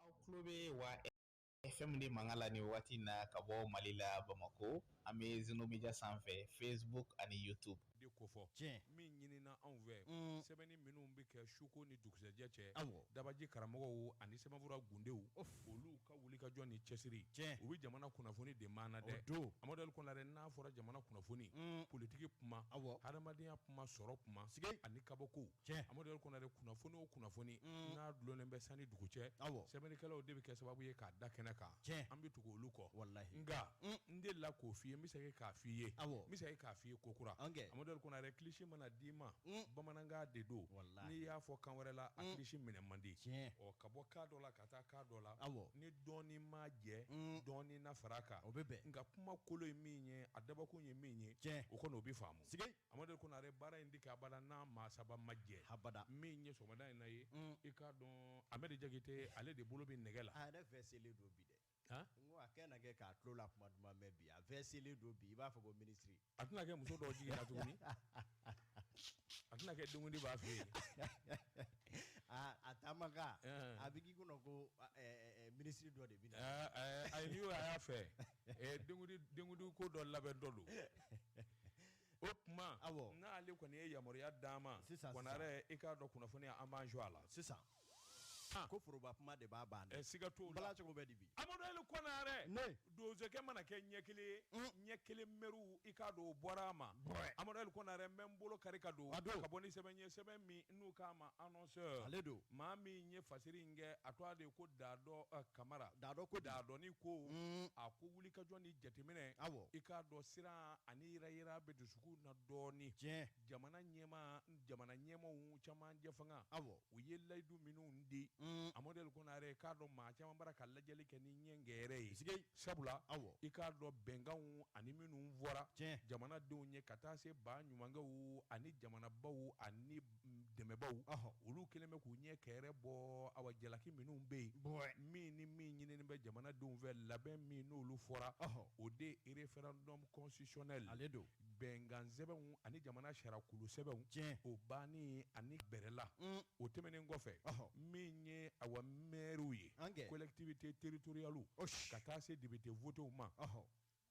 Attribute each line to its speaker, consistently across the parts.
Speaker 1: aw tulo bɛ wa FM de mankan la nin waati na ka bɔ mali la bamakɔ an bɛ Zeno Media sanfɛ facebook ani youtube de kofɔ tiɲɛ
Speaker 2: min ɲinina anw fɛ sɛbɛnni minnu bɛ kɛ suko ni dugusɛjɛ cɛ dabaji karamɔgɔw ani sɛbɛnfura gundenw olu ka wulikajɔ ni cɛsiri tiɲɛ u bɛ jamana kunnafoni de maana dɛ don Amadu L Konare n'a fɔra jamana kunnafoni politiki kuma hadamadenya kuma sɔrɔ kuma sigi ani kabako Amadu L Konare kunnafoni o kunnafoni mm. n'a dulonnen bɛ san ni dugu cɛ sɛbɛnnikɛlaw de bɛ kɛ sababu ye k'a da kɛnɛ kan an bɛ tugu olu kɔ nka mm. n de la k'o f'i ye n bɛ se k'a f'i ye n bɛ se k'a f'i ye kokura Amadu L Konare kilisi mana d'i ma mm. bamanankan de don n'i y'a fɔ kan wɛrɛ la a kilisi minɛ man di ɔ ka bɔ kan dɔ la ka taa kan dɔ la ni dɔɔni m'a jɛ dɔɔni na fara kan o bɛ bɛn nka kuma kolo ye min ye a dabɔkun ye min ye o kɔni o bɛ faamu Amadu L Konare baara in tɛ kɛ abada n'a maa saba ma jɛ habada min ye sɔgɔmada in na ye i k'a dɔn Amɛdi Jakite ale de bolo bɛ nɛgɛ la a yɛrɛ fɛ selen don bi
Speaker 3: dɛ a kɛ na kɛ k'a tulo la kuma duman mɛn bi a fɛ selen don bi i b'a fɔ ko minisiri a tɛna kɛ muso dɔ
Speaker 2: jiginna tuguni a tɛna kɛ denkundi b'a fɛ
Speaker 3: yen a taama a bɛ k'i kɔnɔ ko minisiri dɔ de bɛ na ayi n'i y'o y'a
Speaker 2: fɛ denkundi ko dɔ labɛn dɔ don o tuma n'ale kɔni ye yamaruya d'an ma Konare i k'a dɔn kunnafoni an b'an jɔ a la sisan
Speaker 3: ko foroba kuma de b'a ban siga t'o la bala cogo bɛ
Speaker 2: di bi Amadu
Speaker 3: L
Speaker 2: Konare donsokɛ mana kɛ ɲɛ kelen ye ɲɛ kelen mɛriw i k'a dɔn o bɔra a ma Amadu L Konare n bɛ n bolo kari ka don ka bɔ ni sɛbɛn ye sɛbɛn min n'u k'a ma annonceur ale don maa min ye fasiri in kɛ a tɔgɔ de ye ko Daadɔ eh, Kamara Daadɔ ko di? Daadɔni ko Mm. a ko wulikajɔ ni jateminɛ Awɔ. i k'a dɔn siran ani yirayira bɛ dusukun na dɔɔni Tiɲɛ. jamana ɲɛmaa jamana ɲɛmaaw caman jɛfanga Awɔ. u ye layidu minnu di Mm. Amadu L Konare i k'a dɔn maa caman bara ka lajɛli kɛ ni ɲɛnkɛrɛ ye Sike. sabula i k'a dɔn bɛnkanw ani minnu fɔra jamanadenw ye ka taa se ba ɲumankɛw ani jamanabaw ani dɛmɛbaw olu kɛlen bɛ k'u ɲɛ kɛrɛ bɔ awa jalaki minnu bɛ yen bon min ni min ɲinini bɛ jamanadenw fɛ labɛn min n'olu fɔra o de ye référendum constitutionnel ale don bɛnkansɛbɛnw ani jamana sariyakolosɛbɛnw tiɲɛ o bannen ani bɛrɛla mm. o tɛmɛnen kɔfɛ min ye awa mɛriw ye collectivité territoriale ka taa se député votew ma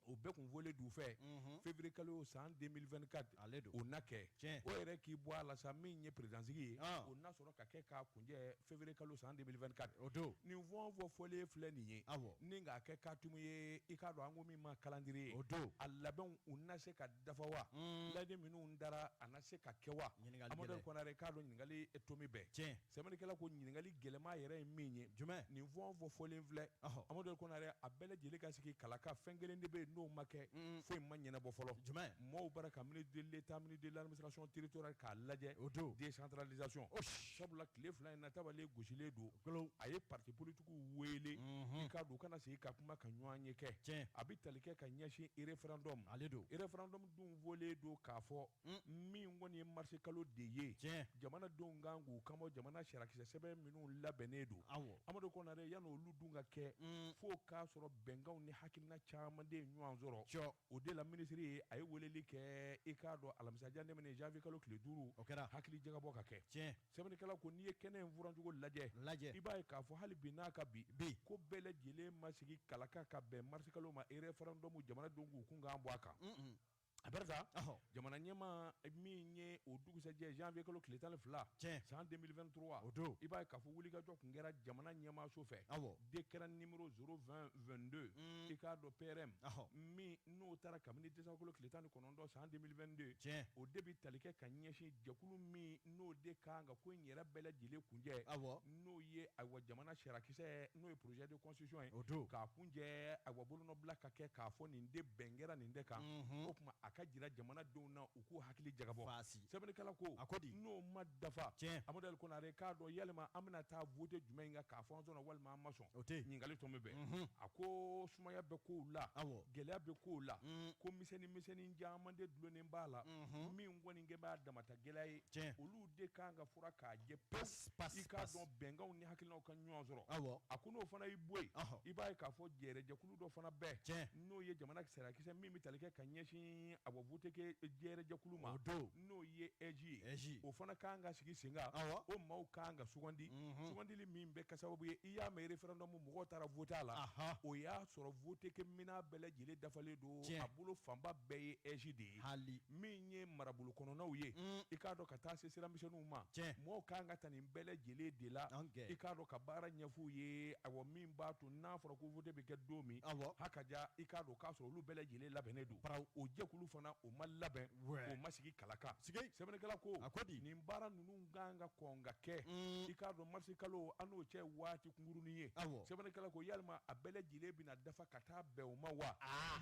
Speaker 2: o bɛɛ kun fɔlen d'u fɛ mhm. février kalo san 2024 ale don o na kɛ o yɛrɛ k'i bɔ a la sa min ye présidentsigi ye ah. o na sɔrɔ ka kɛ k'a kuncɛ février kalo san 2024 o don nin fɔn o fɔn fɔlen filɛ nin ye awɔ ni k'a kɛ kaatumu ye i k'a dɔn an ko min ma calendrier ye o don a labɛnw u na se ka dafa wa uun layidu minnu tara a na se ka kɛ wa ɲininkali gɛlɛn Amadu Ali Kɔnare k'a dɔn ɲininkali tomi bɛ tiɲɛ sɛbɛnnikɛla ko ɲininkali gɛlɛma yɛrɛ ye min ye jumɛn nin fɔn o fɔn fɔlen filɛ ɔhɔ Amadu Ali Kɔnare a bɛɛ lajɛlen ka sigi kalaka fɛn kelen de bɛ yen n'o ma kɛ uun foyi ma ɲɛnɛbɔ fɔlɔ jumɛn maaw bara ka ministre de l'État ministre de l'administration territoriale k'a lajɛ o don décentralisation o sabula tile fila in na tabalen gosilen don a ye partis politiques wele i k'a dɔn u ka na sigi ka kuma ka ɲɔgɔnye kɛ cɛ a bɛ tali kɛ ka ɲɛsin référendum ale don référendum dun fɔlen don k'a fɔ min kɔni ye mars kalo de ye cɛ jamanadenw kan k'u kan bɔ jamana sarakisɛ sɛbɛn minnu labɛnnen don awɔ amadu kɔnare yan'olu dun ka kɛ fo k'a sɔrɔ bɛnkanw ni hakilina caman de ɲɔgɔn sɔrɔ c O de la minisiri ye a ye weleli kɛ i k'a dɔn alamisa in tɛmɛnen janvier kalo tile duuru, o kɛra, hakili jagabɔ ka kɛ, tiɲɛ, sɛbɛnnikɛlaw ko n'i ye kɛnɛ in furancogo lajɛ, lajɛ, i b'a ye k'a fɔ hali bi n'a ka bi, bi, ko bɛɛ lajɛlen ma sigi kalaka ka bɛn marisikalo ma erɛfɛrɛndɔmu jamanadenw k'u kunkan bɔ a kan, un un, Abarisa, ɔhɔ, jamanaɲɛmaa min ye o dugusajɛ janvier kalo tile tan ni fila, tiɲɛ, san 2023, o don, i b'a ye k'a fɔ wulikajɔ tun kɛra jamana ɲɛmaaso fɛ, awɔ. décret numéro 02022 i k'a dɔn PRM min n'o taara kabini décembre kalo tile tan ni kɔnɔntɔn san 2022 cɛ o de bɛ tali kɛ ka ɲɛsin jɛkulu min n'o de kan ka ko in yɛrɛ bɛɛ lajɛlen kuncɛ awɔ n'o ye ayiwa jamana sarakisɛ n'o ye projet de constitution ye o don k'a kuncɛ ayiwa bolonɔbila ka kɛ k'a fɔ nin de bɛn kɛra nin de kan o tuma a ka jira jamanadenw na k'u hakili jagabɔ Faasi. sɛbɛnnikɛla ko A ko di? n'o ma dafa Tiɲɛ. Amadu Ali Konare k'a dɔn yalima an bɛna taa vote jumɛn in kan k'a fɔ an sɔnna walima an ma sɔn O tɛ yen. ɲininkali tomi bɛ a ko sumaya bɛ kow la Awɔ. gɛlɛya bɛ kow la ko misɛnnin misɛnnin caman de dulonnen b'a la min kɔni kɛ b'a damata gɛlɛya ye Tiɲɛ. olu de kan ka furan k'a jɛ Pas, pas, pewu i k'a pas. dɔn bɛnkanw ni hakilinaw ka ɲɔgɔn sɔrɔ Awɔ. a ko n'o fana y'i bɔ yen Ɔhɔ. i b'a ye k'a fɔ gérer jɛkulu du dɔ fana bɛ yen Tiɲɛ. n'o ye jamana sarakisɛ min bɛ tali kɛ ka ɲɛsin a bɔ vote kɛ gérer jɛkulu ma O don. n'o ye AIGE ye AIGE. o fana ka kan ka sigi sen kan Awɔ. o maaw ka kan ka sugandi sugandili min bɛ kɛ sababu ye i y'a mɛn referendum mɔgɔw taara vote a la Aha. o y'a sɔrɔ vote kɛ minɛn bɛɛ lajɛlen dafalen don Tiɲɛ. a bolo fanba bɛɛ ye AIGE de ye Hali. min ye marabolo kɔnɔnaw ye i k'a dɔn ka taa se sira misɛnninw ma Tiɲɛ. mɔgɔw ka kan ka ta nin bɛɛ lajɛlen de la An kɛ. i k'a dɔn ka baara ɲɛf'u ye awɔ min b'a to n'a fɔra ko vote bɛ kɛ don min hakaja i k'a dɔn k'a sɔrɔ olu bɛɛ lajɛlen labɛnnen don o jɛkulu fana o ma labɛn o ma sigi kalaka sɛbɛnnikɛla ko a ko di nin baara ninnu ka kan ka kɔn ka kɛ i k'a dɔn marisi kalo an n'o cɛ waati kunkurunnin ye sɛbɛnnikɛla ko yalima a bɛɛ lajɛlen bɛna dafa ka taa bɛn o ma wa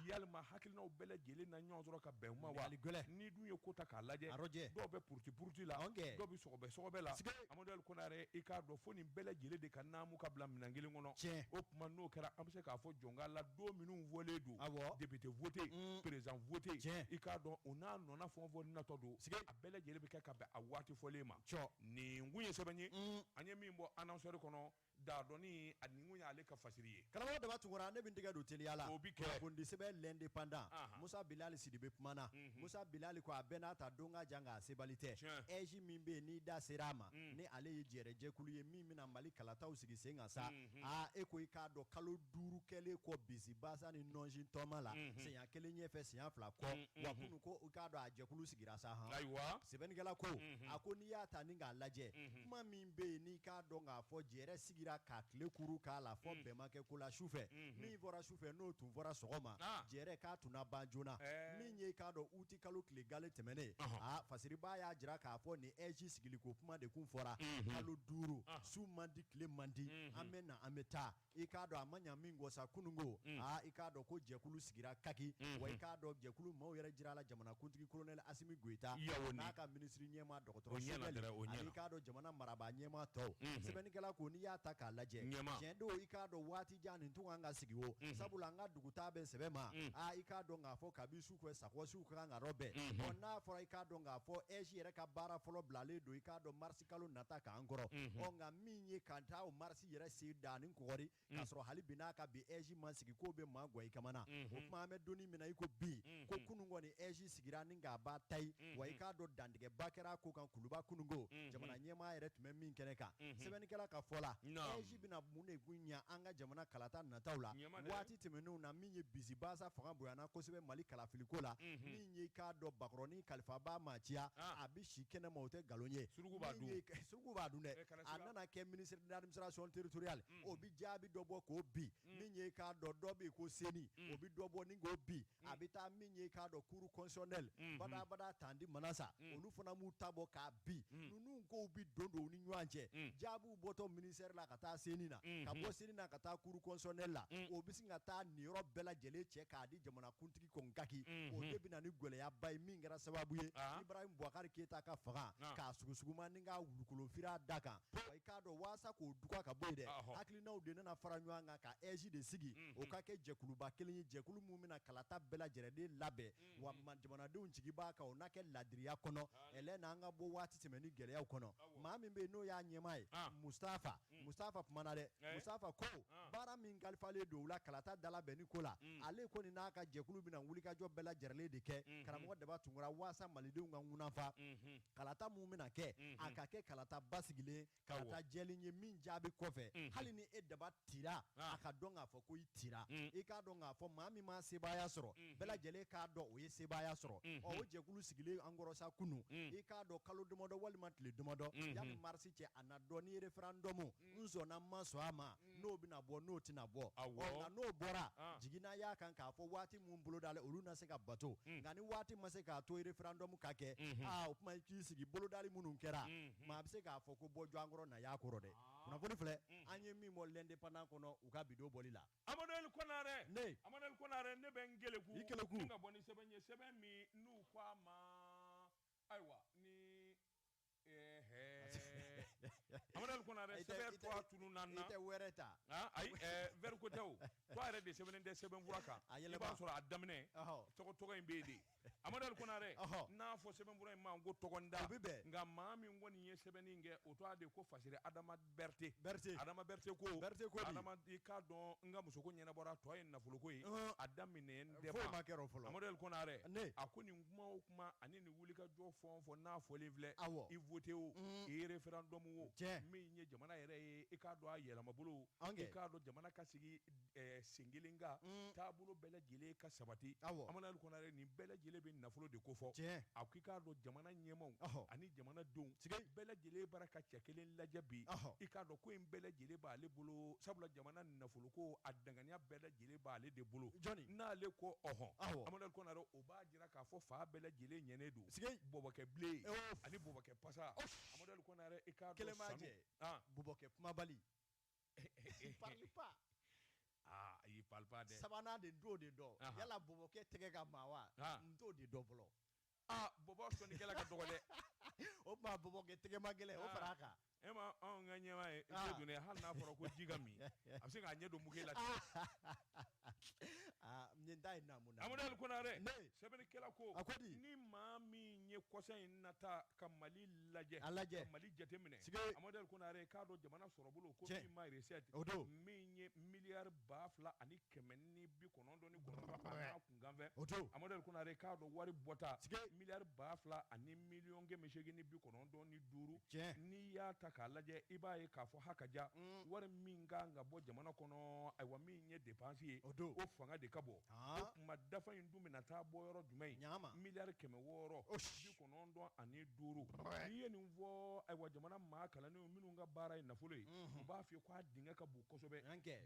Speaker 2: yalima hakilinaw bɛɛ lajɛlen na ɲɔgɔn sɔrɔ ka bɛn o ma wa n'i dun ye ko ta k'a lajɛ dɔw bɛ puruti puruti la dɔw bɛ sɔgɔbɛ sɔgɔbɛ la Mɔndɛli Konare i k'a dɔn fo nin bɛɛ lajɛlen de ka naamu ka bila minɛn kelen kɔnɔ, tiɲɛ, o tuma n'o kɛra an bɛ se k'a fɔ jɔn ka la don minnu fɔlen don, awɔ, député voté, un, président voté, tiɲɛ, i k'a dɔn o n'a nɔna fɛn o fɛn natɔ don, siga, a bɛɛ lajɛlen bɛ kɛ ka bɛn a waati fɔlen ma, cɔ, nin kun ye sɛbɛn ye, un, an ye min bɔ annonceur kɔnɔ Da dɔnni a nin kun y'ale ka fasiri ye. Karamɔgɔ Daba Tunkara ne bɛ
Speaker 3: n tɛgɛ don teliya la. O bɛ kɛ. Kunnafoni di sɛbɛn L'Indépendant. Anhan. Musa Bilali Sidibe kumana. Unhun. Musa Bilali ko a bɛɛ n'a ta don ka jan nka a sebali tɛ. Tiɲɛ. AIGE min bɛ yen n'i da sera a ma. Un. Ni ale ye jɛrɛjɛkulu ye min bɛna Mali kalataw sigi sen kan sa. Unhun. Aa e ko i k'a dɔn kalo duuru kɛlen kɔ bisibasa ni nɔnsi taama la. Unhun. Siɲa kelen ɲɛfɛ siɲa fila kɔ. Un, unhun. Wa kunun ko i k'a dɔn a jɛkulu sigira sa han. Ayiwa. Sɛbɛnnikɛla ko. Unhun. A ko n'i y'a ta ni k'a lajɛ. Unhun. Kuma min bɛ yen n'i k'a dɔn k'a fɔ jɛrɛ sigira ka tile kuru k'a la fɔ bɛn ma kɛ ko la sufɛ min fɔra sufɛ n'o tun fɔra sɔgɔma jɛrɛ k'a tun na ban joona min ye k'a dɔn uti kalo tile gale tɛmɛnen aa fasiribaa y'a jira k'a fɔ nin AIGE sigiliko kuma de kun fɔra kalo duuru su man di tile man di an bɛ na an bɛ taa i k'a dɔn a ma ɲa min kɔ sa kununko mm. aa i k'a dɔn ko jɛkulu sigira kaki mm-hmm. wa i k'a dɔn jɛkulu maaw yɛrɛ jira la jamanakuntigi kolonɛli asimi goyita n'a ka minisiri ɲɛmaa dɔgɔtɔrɔ ani k'a dɔn jamana marabaa ɲɛmaa tɔw mm-hmm. sɛbɛnnikɛla ko n'i y'a ta k'a lajɛ tiɲɛ don i k'a dɔn waati jan nin tun kan ka sigi o mm-hmm. sabula an ka dugutaa bɛ sɛbɛn ma mm. aa i k'a dɔn k'a fɔ kabi su fɛ sakɔsiw ka kan ka rɔbɛn n'a fɔra i k'a dɔn k'a fɔ AIGE yɛrɛ ka baara fɔlɔ bilalen don i k'a dɔn marisi kalo nata k'an kɔrɔ ɔ nka min ye ka taa o marisi yɛrɛ sen da ni kɔɔri k'a sɔrɔ hali bi n'a ka bi AIGE ma sigi k'o bɛ maa gan i kaman na o tuma an bɛ don min na i ko bi ko kunun kɔni AIGE sigira ni k'a ba ta ye wa i k'a dɔn dantigɛba kɛra ko kan kuluba kununko jamana ɲɛmaa yɛrɛ tun bɛ min kɛnɛ kan sɛbɛnnikɛla ka fɔ la AIGE bɛna mun de kun ɲɛ an ka jamana kalata nataw la waati tɛmɛnenw na min ye bisibasa fanga bonyana kosɛbɛ mali kalafiliko la min ye k'a dɔn bakɔrɔnin kalifabaa maa caya si kɛnɛ ma o tɛ nkalon ye suruku b'a dun suruku b'a dun dɛ a nana kɛ ministre de l'administration territoriale mm. o bi jaabi dɔ bɔ k'o bi mm. min ye k'a dɔn dɔ bɛ ko CENI mm. o bi dɔ bɔ ni k'o bi a bɛ taa min ye k'a dɔn cour constitutionnelle mm-hmm. badabada tanti Manassa olu fana m'u ta bɔ k'a bi ninnu kow bi don don u ni ɲɔgɔn cɛ jaabiw bɔtɔ ministère la ka taa CENI na mm-hmm. ka bɔ CENI na ka taa cour constitutionnelle la o bɛ sin ka taa nin yɔrɔ bɛɛ lajɛlen cɛ k'a di jamanakuntigi kaki o de bɛ na ni gɛlɛyaba ye min kɛra sababu ye Ibrahim Boubacar Keita ka fanga k'a sugusuguma ni ka wulukolonfira da kan i k'a dɔn walasa k'o duga ka bɔ yen dɛ hakilinaw de nana fara ɲɔgɔn kan ka AIGE de sigi o ka kɛ jɛkuluba kelen ye jɛkulu min bɛna kalata bɛɛ lajɛlen de labɛn wa jamanadenw jigi b'a kan o na kɛ laadiriya kɔnɔ n'an ka bɔ waati tɛmɛnen gɛlɛyaw kɔnɔ maa min bɛ yen n'o y'a ɲɛmaa ye mustafa mustafa kumana dɛ mustafa ko baara min kalifalen don u la kalata dalabɛnni ko la ale kɔni n'a ka jɛkulu bɛna wulikajɔ bɛɛ lajɛlen de kɛ karamɔgɔ daba tunkara walasa malidenw ka kunfa kalata minnu bɛna kɛ a ka kɛ kalata basigilen kalata jɛlen ye min jaabi kɔfɛ hali ni e daba tira a k'a dɔn k'a fɔ ko i tira i k'a dɔn k'a fɔ maa min ma sebaaya sɔrɔ bɛɛ lajɛlen k'a dɔn o ye sebaaya sɔrɔ o jɛkulu sigilen an kɔrɔ sa kunun i k'a dɔn kalo damadɔ walima tile damadɔ yanni marisi cɛ a na dɔn ni referendum n sɔnna n ma sɔn a ma n'o bɛna bɔ n'o tɛna bɔ Awɔ. Ɔ, nka n'o bɔra Ah. jiginna y'a kan k'a fɔ waati minnu bolodalen olu na se ka bato nka ni waati ma se k'a to referendum ka kɛ aa o tuma i k'i sigi bolodali minnu kɛra maa a bɛ se k'a fɔ ko bɔ jɔn kɔrɔ na y'a kɔrɔ dɛ kunnafoni filɛ an ye min bɔ l'indépendant kɔnɔ u ka bi don bɔli la Amadu Ali
Speaker 2: Konare. Ne. Amadu Ali Konare ne bɛ n keleku. I keleku. Ni ka bɔ ni sɛbɛn ye sɛbɛn min n'u ko a ma ayiwa ni Amadu Ali Konare sɛbɛn tɔgɔ tununna n na i tɛ wɛrɛ ta
Speaker 3: ayi
Speaker 2: vɛri ko tɛ o tɔgɔ yɛrɛ de sɛbɛnnen tɛ sɛbɛnfura kan i b'a sɔrɔ a daminɛ tɔgɔ tɔgɔ in bɛ yen de amadu ali konare n'a fɔ sɛbɛnfura in ma ko tɔgɔ da a bɛ nka maa min kɔni ye sɛbɛnni kɛ o tɔgɔ de ko fasiri adama berete berete adama berete ko adama i k'a dɔn n ka musoko ɲɛnabɔra tɔ ye nafoloko ye a daminɛ tɛ foyi ma kɛ o fɔlɔ Amadu
Speaker 3: Ali Konare ne a
Speaker 2: ko nin kuma o kuma ani nin wulikajɔ fɛn o fɛn n'a fɔlen filɛ awɔ i voté o i référendum o tiɲɛ min ye jamana yɛrɛ ye i k'a dɔn a yɛlɛmabolo i k'a dɔn jamana ka sigi eh, sen kelen kan mm. taabolo bɛɛ lajɛlen ka sabati amadu kɔnare nin bɛɛ lajɛlen bɛ nafolo de kofɔ a ko i k'a dɔn jamana ɲɛmaw ani jamanadenw bɛɛ lajɛlen bara ka cɛ kelen lajɛ bi i k'a dɔn ko in bɛɛ lajɛlen b'ale bolo sabula jamana nafoloko a danganiya bɛɛ lajɛlen b'ale de bolo n'ale ko ɔhɔn amadu kɔnare o b'a jira k'a fɔ fan bɛɛ lajɛlen ɲɛnen don bɔbɔkɛ bilen ani bɔbɔkɛ pasa amadu kɔnare i k'a dɔn sanu bɔbɔkɛ kumabali
Speaker 3: parle pas aa
Speaker 2: il parle pas dɛ sabanan dɛ n t'o de dɔn
Speaker 3: Aha. yala bɔbɔkɛ tɛgɛ ka maa wa Ah. n t'o de dɔn fɔlɔ aa bɔbɔ
Speaker 2: sɔnnikɛla ka dɔgɔ dɛ o
Speaker 3: tuma bɔbɔkɛ tɛgɛ ma gɛlɛn o fara a kan e ma anw
Speaker 2: ka ɲɛmaa ye Ah. e dun dɛ hali n'a fɔra ko ji ka min a bɛ se k'a ɲɛ don muke la ten
Speaker 3: Ah, nin ta ye naamu naamu. Amadu Ali Konare
Speaker 2: Ne! sɛbɛnnikɛla ko A ko di? ni maa min ye kɔsa in na ta ka Mali lajɛ A lajɛ. ka Mali jateminɛ Sike! Amadu Ali Konare k'a dɔn jamana sɔrɔbolo ko Tiɲɛ. min ma recette O don. min ye miliyari ba fila ani kɛmɛ ni bi kɔnɔntɔn ni kɔnɔntɔn an'a kun nkanfɛ o don Amadu Ali Konare k'a dɔn wari bɔta miliyari ba fila ani miliyɔn kɛmɛ seegin ni bi kɔnɔntɔn ni duuru n'i y'a ta k'a lajɛ i b'a ye k'a fɔ hakaja wari min ka kan ka bɔ jamana kɔnɔ ayiwa min ye dépense ye o don o fanga de ka bon o tuma dafa in dun bɛna taa bɔ yɔrɔ jumɛn miliyari kɛmɛ wɔɔrɔ kɔnɔntɔn ani duuru n'i ye nin fɔ ayiwa jamana maa kalannen minnu ka baara ye nafolo ye u b'a fɔ k' a dingɛ ka bon kosɛbɛ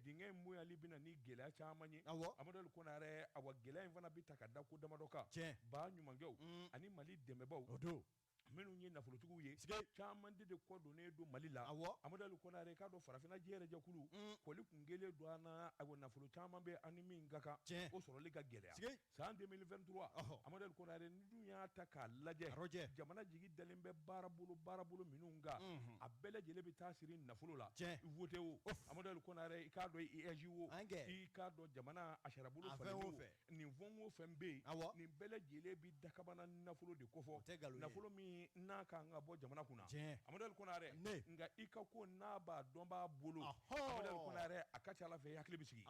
Speaker 2: dingɛ in bonyali bɛna ni gɛlɛya caman ye amadu konare ayiwa gɛlɛya in fana bɛ ta ka da ko damadɔ kan cɛ baɲumankɛw ani mali dɛmɛbaw o don minnu ye nafolotigiw ye caman de kɔ donnen don mali la amadu konare k'a dɔn farafinna yɛrɛ jɛkulu kɔli tun kelen don a nafolo caman bɛ ani min ka kan cɛ o sɔrɔli ka gɛlɛya san 2023 ɔhɔ Amadu Konare n'i dun y'a ta k'a lajɛ arɔjɛ jamana jigi dalen bɛ baarabolo baarabolo minnu kan mhm. a bɛɛ lajɛlen bɛ taa siri nafolo la tiɲɛ vote o Amadu Konare i k'a dɔn i AIGE wo i k'a dɔn jamana a sarabolo falen wo nin fɛn o fɛn bɛ yen awɔ nin bɛɛ lajɛlen bɛ dakabana nafolo de kofɔ o tɛ nkalon ye nafolo min n'a ka kan ka bɔ jamana kunna tiɲɛ Amadu Konare ne nka i ka ko n'a b'a dɔnbaa bolo Amadu Konare a ka ca a la fɛ i hakili bɛ sigi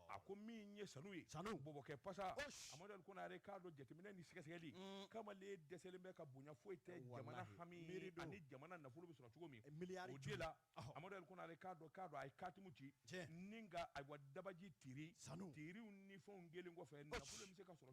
Speaker 2: a ko min ye sanu ye sanu bɔbɔkɛ pasa amadu konare k'a dɔn jateminɛ ni sɛgɛsɛgɛli mm. kamalen dɛsɛlen bɛ ka bonya foyi tɛ jamana hami ani jamana nafolo bɛ sɔrɔ cogo min eh, min o de la amadu konare k'a dɔn k'a dɔn a ye katimu ci ni nka ayiwa dabaji tiiri sanu tiiriw ni fɛnw kɛlen kɔfɛ nafolo bɛ se ka sɔrɔ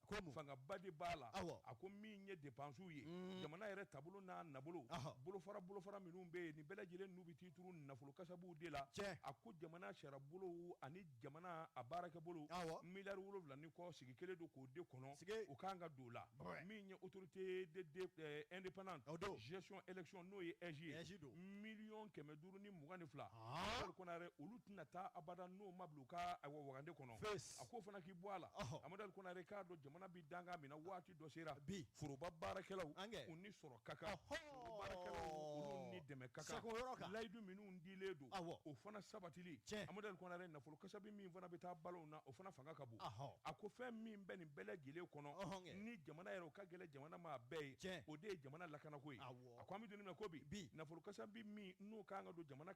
Speaker 2: fangaba de b'a la a ko min ye dépensew ye mm. jamana yɛrɛ taabolo n'a nabolo bolofara bolofara minnu bɛ yen nin bɛɛ lajɛlen n'u bɛ t'i turu nafolo kasabuw de la a ko jamana sarabolo ani jamana a baarakɛbolo miliyari wolonwula ni kɔ sigi kelen don k'o de kɔnɔ o kan ka don la min ye autorité indépendante gestion élection n'o ye AIGE ye miliyɔn kɛmɛ duuru ni mugan ni fila konare olu tɛna taa abada n'o ma bila u ka wagande kɔnɔ a ko fana k'i bɔ a la amadu konare k'a dɔn jamana bɛ dankan min na waati dɔ sera bi foroba baarakɛlaw u ni sɔrɔ ka kan ni dɛmɛ ka kan layidu minnu dilen don o fana sabati cɛ amadu konare nafolo kasabi min fana bɛ taa balo na o fana fanga ka bon a ko fɛn min bɛ nin bɛɛ lajɛlen kɔnɔ ni jamana yɛrɛ o ka gɛlɛn jamana ma bɛɛ ye cɛ o de ye jamana lakanako ye a ko an bɛ don min na ko bi bi nafolo kasabi min n'o ka kan ka don jamana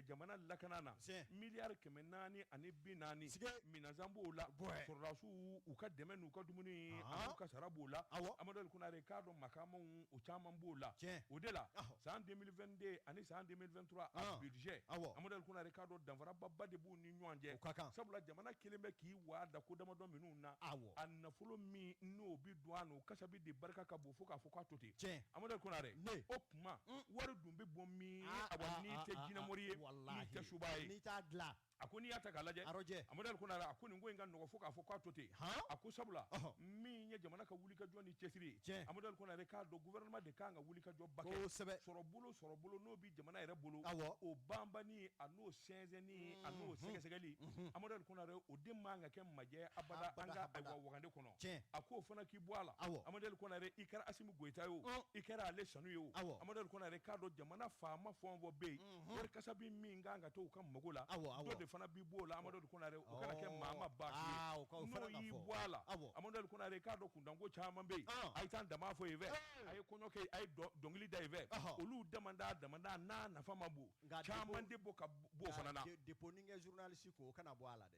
Speaker 2: jamana lakana na miliyari kɛmɛ naani ani bi naani s minɛnsan b'o la sɔrɔdasiw u ka dɛmɛ n'u ka dumuni u ka sara b'o la ayiwa amadu konare k'a dɔn makaamaw caman b'o la o de la san 2022 ani san 2023 a budget ayiwa amadu konare k'a dɔn danfaraba de b'u ni ɲɔgɔn cɛ ka kan sabula jamana kɛlen bɛ k'i waga da ko damadɔ minnu na ayiwa a nafolo min n'o bɛ don a kasabi de barika ka bon o fo k'a fɔ k'a to ten tiɲɛ amadu konare ne o tuma mm. wari dun bɛ
Speaker 3: bɔ
Speaker 2: min ah, a ah, n'i ah, tɛ
Speaker 3: jinɛmori
Speaker 2: ye n'i tɛ suba ye
Speaker 3: n'i t'a
Speaker 2: dilan a ko n'i y'a ta k'a lajɛ arɔjɛ amadu konare a ko nin ko in ka nɔgɔ fo k'a fɔ k'a to ten a ko sabula min ye jamana ka wulikajɔ ni cɛsiri ye tiɲɛ amadu konare k'a dɔn gouvernement de kan ka wulikajɔ ba kɛ kosɛbɛ sɔrɔbolo sɔrɔbolo n'o bɛ jamana yɛrɛ bolo awɔ o banbanni a n'o sɛnsɛnni a n'o sɛgɛsɛgɛli amadu konare o de man kan ka kɛ majɛ abada an ka wagande kɔnɔ tiɲɛ a ko o fana k'i bɔ a la awɔ amadu ali konare i kɛra asimi goyita ye o i kɛra ale sanu ye o awɔ amadu ali konare k'a dɔn jamana faama fɛn o fɛn bɛ yen wari kasa bi min kan ka to u ka mago la awɔ awɔ dɔ de fana bi b'o la amadu ali konare o kana kɛ maa ma ba ye n'o y'i bɔ a la awɔ amadu ali konare k'a dɔn kuntanko caman bɛ yen a ye tam-tam fɔ yen fɛ a ye kɔɲɔ kɛ a ye dɔnkili da yen fɛ olu damanda damanda n'a nafa ma bon caman de bɔ ka bɔ o fana na depo ni kɛ journaliste
Speaker 3: ko o kana bɔ a la dɛ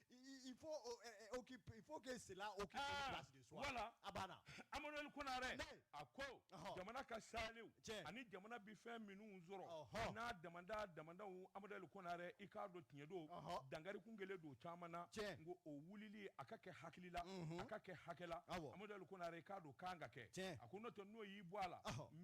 Speaker 2: il faut euh, euh, occuper il
Speaker 3: faut que cela occupe ah, une place de choix voilà a
Speaker 2: banna Amadu
Speaker 3: Ali
Speaker 2: Konare a ko jamana ka salew ani jamana bi fɛn minnu sɔrɔ n'a damanda damandaw Amadu Ali Konare i k'a dɔn tiɲɛ don dangari kun kɛlen don caman na nko o wulili a ka kɛ hakili la a ka kɛ hakɛ la Amadu Ali Konare i k'a dɔn kan ka kɛ a ko n'o tɛ n'o y'i bɔ a la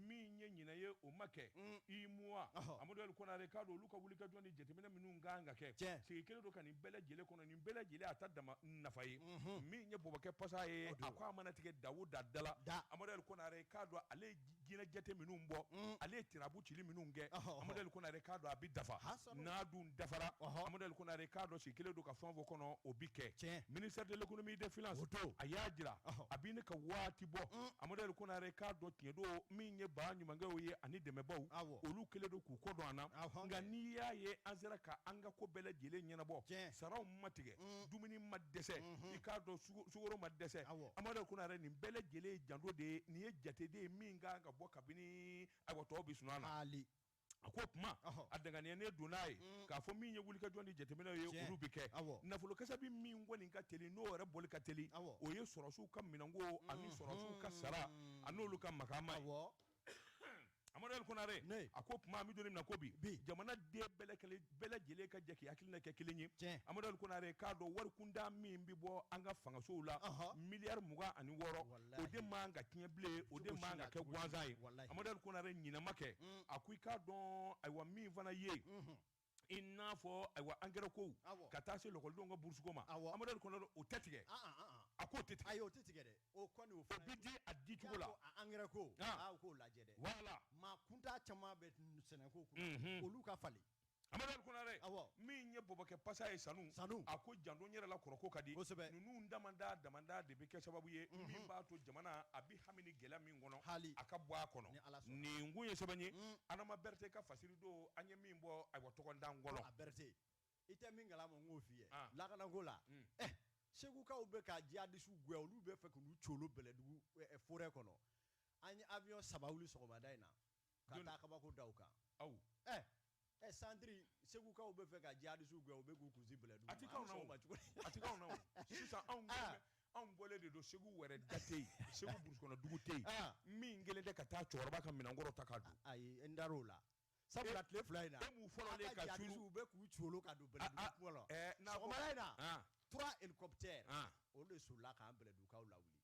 Speaker 2: min ye ɲinan ye o ma kɛ i muwa Amadu Ali Konare i k'a dɔn olu ka wulikajɔ ni jateminɛ minnu kan ka kɛ sigi kɛlen don ka nin bɛɛ lajɛlen kɔnɔ nin bɛɛ lajɛlen a ta dama nafa ye min ye bɔbɔkɛ pasa ye a ko a mana tigɛ da o da la amadu ali konare k'a dɔn ale ye ɲinan jate minnu bɔ ale ye tirabu cili minnu kɛ amadu ali konare k'a dɔn a bɛ dafa n'a dun dafara amadu ali konare k'a dɔn sigi kɛlen don ka fɛn fɔ kɔnɔ o bɛ kɛ ministère de l'économie et des finances a y'a jira a bɛ ne ka waati bɔ amadu ali konare k'a dɔn tiɲɛ don min ye ba ɲumankɛw ye ani dɛmɛbaaw olu kɛlen don k'u kɔ don an na nka n'i y'a ye an sera ka an ka ko bɛɛ lajɛlen ɲɛnabɔ saraw ma tigɛ mm. dumuni ma dɛsɛ mm-hmm. i k'a dɔn sukoro ma dɛsɛ amadu ali konare nin bɛɛ lajɛlen ye janto de ye nin ye jate de ye min kan ka bɔ kabini ayiwa tɔw bi sunɔgɔ na a ko kuma a danganiya ne don n'a ye mm. k'a fɔ min ye wulikajɔ ni jateminɛ ye olu bɛ kɛ nafolo kasa bɛ min kɔni ka teli n'o yɛrɛ bɔli ka teli o ye sɔrɔsiw ka minɛnko ani mm-hmm. sɔrɔsiw ka sara a n'olu ka makaama ye Amadu Ali Konare a ko kuma an bɛ don min na ko bi jamanaden bɛɛ lajɛlen ka jɛ k'i hakilina kɛ kelen ye Amadu Ali Konare k'a dɔn wari kunda min bɛ bɔ an ka fangasow la miliyari mugan ani wɔɔrɔ o de man ka tiɲɛ bilen o de man ka kɛ gansan ye Amadu Ali Konare ɲɛnama kɛ a ko i k'a dɔn ayiwa min fana ye i n'a fɔ ayiwa angɛrɛ kow ka taa se lakɔlidenw ka burusuko ma amadu ali konare o tɛ tigɛ a k'o tɛ tigɛ o tɛ tigɛ dɛ
Speaker 3: o bɛ di a di cogo
Speaker 2: la angɛrɛ ko
Speaker 3: k'o lajɛ dɛ wala maa
Speaker 2: kunda
Speaker 3: caman bɛ sɛnɛko kunna olu ka falen amadu
Speaker 2: ali konare min ye bɔbɔkɛ pasa ye sanu a ko janto n yɛrɛ la kɔrɔko ka di ninnu damanda damanda de bɛ kɛ sababu ye min b'a to jamana a bɛ hami ni gɛlɛya min kɔnɔ hali a ka bɔ a kɔnɔ nin kun ye sɛbɛn ye mm. adama berete ka fasiri don an ye min bɔ ayiwa tɔgɔndan kɔnɔ a berete
Speaker 3: i tɛ min kalama n k'o f'i ye ah. lakanako la mm. eh, segukaw bɛ ka jihadisiw gɛn olu bɛ fɛ k'u colo bɛlɛdugu eh, eh, forêt kɔnɔ an ye avion saba wuli sɔgɔmada in na ka taa kabako da u kan aw ɛ ɛ santiri segukaw bɛ fɛ ka jihadisiw gɛn u bɛ k'u kunsin bila a tɛ
Speaker 2: cogo sisan anw anw bɔlen de don segu wɛrɛ da tɛ yen segu burusu kɔnɔ dugu tɛ yen min kelen tɛ ka taa cɛkɔrɔba ka minɛnkɔrɔ ta ka don ayi n da o
Speaker 3: la sabula tile fila in b'u fɔlɔ ka
Speaker 2: u bɛ k'u cogo ka
Speaker 3: don in na trois hélicoptères olu de solila k'an bɛlɛdugukaw lawuli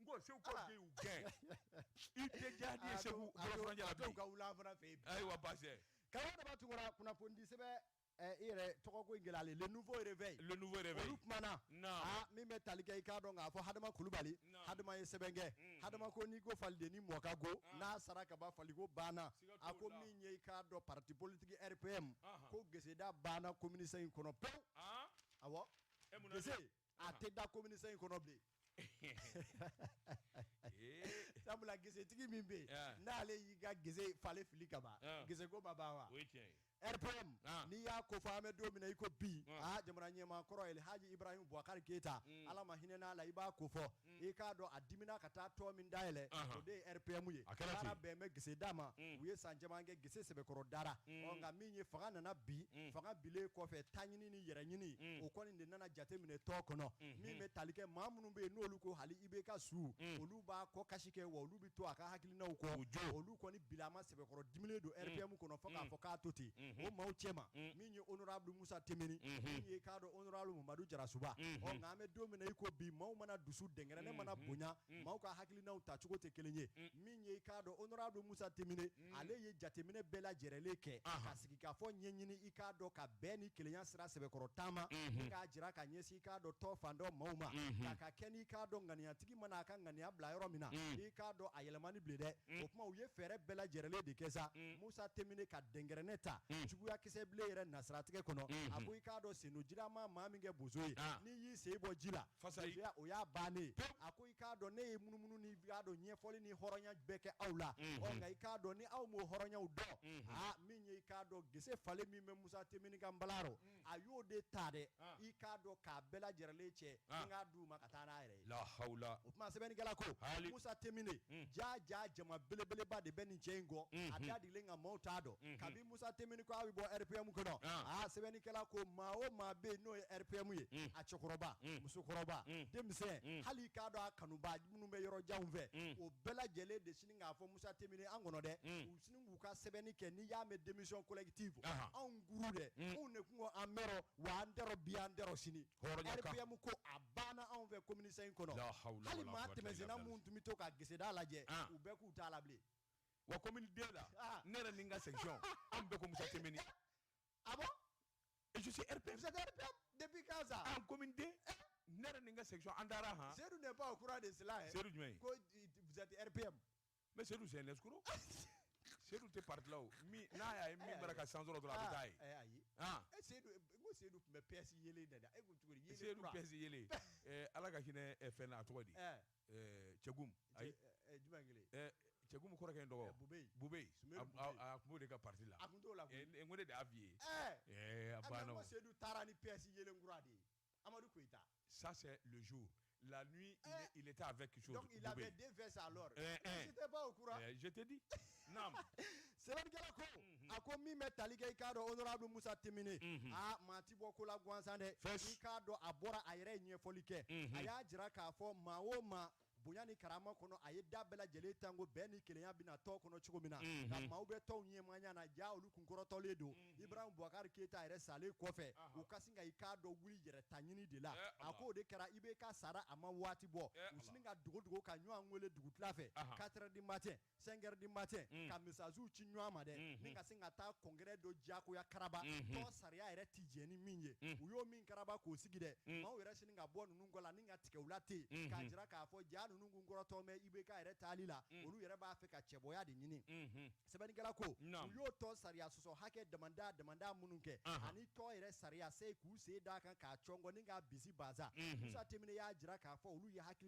Speaker 3: n
Speaker 2: ko segukaw de y'u gɛn i tɛ jihadi ye segu bolofuranjɛ la bilen ka wula fana
Speaker 3: fɛ yen ayiwa baasi
Speaker 2: tɛ karamɔgɔ daba tunkara
Speaker 3: kunnafoni di sɛbɛn eh, i yɛrɛ tɔgɔ ko in gɛlɛyalen le nouveau réveil le nouveau réveil olu kumana ah, min bɛ tali kɛ i k'a dɔn k'a fɔ hadama kulubali hadama ye sɛbɛn kɛ mm. hadama ko n'i ko faliden ni mɔ ka go ah. n'a sara ka ban faliko banna a ko min ye i k'a dɔn parti politique rpm ko geseda banna commune cinq kɔnɔ pewu ah. awɔ gese a tɛ da commune cinq kɔnɔ bilen sabula gesetigi min bɛ yen n'ale y'i ka gese falen fili ka ban geseko ma ban wa rpm n'i y'a ko fɔ an bɛ don min na i ko bi aa jamana ɲɛmaa kɔrɔ El Haji Ibrahim Boubacar Keita Ala ma hinɛ n'a la i b'a ko fɔ i k'a dɔn a dimina ka taa tɔn min dayɛlɛ o de ye rpm ye baara bɛn bɛ gese d'a ma u ye san caman kɛ gese sɛbɛkɔrɔ dara nka min ye fanga nana bin fanga binnen kɔfɛ taɲini ni yɛrɛɲini o kɔni de nana jate minɛ tɔn kɔnɔ min bɛ tali kɛ maa minnu bɛ yen n'olu ko hali ibk su olu b'a kɔ kasi kɛ wa olu bɛ to a ka hakilinaw kɔ olu kɔni bilama sɛbɛkɔrɔ diminen don rpm kɔnɔ fo k'a fɔ k'a to ten o maaw cɛma min ye honorable musa temine min ye k'a dɔn Mamadu jarasuba nka an bɛ don min na i ko bi maaw mana dusu dɛnkɛrɛnɛ mana bonya maaw ka hakilinaw tacogo tɛ kelen ye min ye i k'a dɔn honorable musa temine ale ye jateminɛ bɛɛ lajɛrɛlen kɛ ka sigi ka fɔ ɲɛɲini i k'a dɔn ka bɛn ni kelenya sira sɛbɛkɔrɔ taama ni k'a jira ka ɲɛsin i k'a dɔn tɔn fan dɔ maaw ma ka ka kɛ n'i k'a dɔn ŋaniyatigi i mana a ka ŋaniya bila yɔrɔ min na mm. i k'a dɔn a yɛlɛmani bile dɛ mm. o tuma u ye fɛɛrɛ bɛɛ lajɛrɛlen de kɛ sa mm. musa temine ka dɛnkɛrɛnɛ ta juguya kisɛ bile yɛrɛ nasiratigɛ kɔnɔ mm-hmm. a ko i k'a dɔn sen don ji la ma maa min kɛ bozo ye ah. n'i y'i sen bɔ ji la o y'a bannen ye a ko i k'a dɔn ne ye munumunu ni k'a dɔn ɲɛfɔli ni hɔrɔnya bɛɛ kɛ aw la mm-hmm. ɔ nka i k'a dɔn ni aw m'o hɔrɔnyaw dɔn mm-hmm. aa ah, min ye i k'a dɔn gese falen min bɛ musa temine ka nbala rɔ a y'o de ta dɛ i k'a dɔn k'a bɛɛ lajɛrɛlen cɛ k'a d'u ma ka taa n'a yɛrɛ ye lahala o tuma sɛbɛnnikɛla ko musa temine jaa ja jama belebeleba de bɛ nin cɛ in kɔ a dadilen nka maaw t'a dɔn kabi musa temine ko a bɛ bɔ rpm kɔnɔ aa sɛbɛnnikɛla ko maa o maa bɛ yen n'o ye rpm ye a cɛkɔrɔba musokɔrɔba denmisɛn hali i k'a dɔn a kanubaa minnu bɛ yɔrɔ janw fɛ o bɛɛ lajɛlen de sini k'a fɔ musa temine an kɔnɔ dɛ k'u ka sɛbɛnni kɛ n'i y'a mɛn denmisɛn kolɛti fɔ anw guru dɛ anw de tun an mɛn wa an bi an sini hɔrɔnyamu ko a banna anw fɛ kɔmimini in kɔnɔ hali maa tɛmɛna minnu tun bɛ to ka geseda lajɛ u bɛɛ k'u t'a la bilen wa ko
Speaker 2: den la ne yɛrɛ min ka segin an bɛɛ ko muso tɛmɛn a depi
Speaker 3: gansa an ko den
Speaker 2: ne yɛrɛ nin ka segin an taara h seyidu de' kura de
Speaker 3: sela seyidu jumɛn
Speaker 2: kotipme
Speaker 3: mais Seydou
Speaker 2: c'est un escroc Seydou tɛ parti la o min n'a y'a ye min bara ka san sɔrɔ dɔrɔn a bɛ taa ye ah, eh, ayi ah. e
Speaker 3: Seydou ko Seydou tun bɛ PS yelen da e ko cogo di Seydou PS yelen
Speaker 2: eh, ala ka hinɛ eh, fɛn na a tɔgɔ di Tiégoum ayi jumɛn
Speaker 3: kelen Tiégoum kɔrɔkɛ in
Speaker 2: tɔgɔ Boubèye Boubèye a tun b'o de ka parti la a tun t'o la koyi n ko ne
Speaker 3: de y'a f'i ye
Speaker 2: a banna Seydou
Speaker 3: taara ni PS yelen kura de ye Amadou Koita. Ça, c'est
Speaker 2: le jour. La nuit, il, eh. est, il, était avec quelque chose. Donc, il avait deux vestes
Speaker 3: alors. Eh, eh. J'étais pas au courant. Eh, je t'ai dit.
Speaker 2: non. Sɛbɛnnikɛla
Speaker 3: ko A ko min bɛ tali kɛ i k'a dɔn honorable Moussa Timbiné. Mhm. Ah, maa ti bɔ ko la gansan dɛ. I k'a dɔn a bɔra a yɛrɛ ye ɲɛfɔli kɛ. Mhm. A y'a jira k'a fɔ maa o maa bonya ni karama kɔnɔ a ye da bɛɛ lajɛlen tan ko bɛn ni kelenya bɛna tɔn kɔnɔ cogo min na nka maaw bɛ tɔn ɲɛmaaya na ja olu kun kɔrɔtɔlen don Ibrahim Boubacar Keita yɛrɛ salen kɔfɛ u ka sin ka i k'a dɔn olu yɛrɛ ta ɲini de la a ko o de kɛra IBK sara a ma waati bɔ u sini ka dogo dogo ka ɲɔgɔn wele dugutila fɛ quatre heures du matin cinq heures du matin mm. ka messages ci ɲɔgɔn ma dɛ mm-hmm. ni ka sin ka taa congrès dɔ diyagoya karaba mm-hmm. tɔn sariya yɛrɛ tɛ jɛn ni min ye mm. u y'o min karaba k'o sigi dɛ mm. maaw yɛrɛ sini ka bɔ ninnu kɔ la ni ka tigɛ u la ten k'a mm-hmm. jira k'a fɔ jaa ninnu kun kɔrɔtɔ mɛ IBK yɛrɛ taali la olu yɛrɛ b'a fɛ ka cɛbɔya de ɲini sɛbɛnnikɛla ko u y'o tɔn sariya sɔsɔ hakɛ damanda damanda minnu kɛ uh-huh. ani tɔn yɛrɛ sariya se k'u sen d'a kan k'a cɔngɔ ni k'a bisi baza Moussa Timbiné y'a jira k'a fɔ olu ye hakili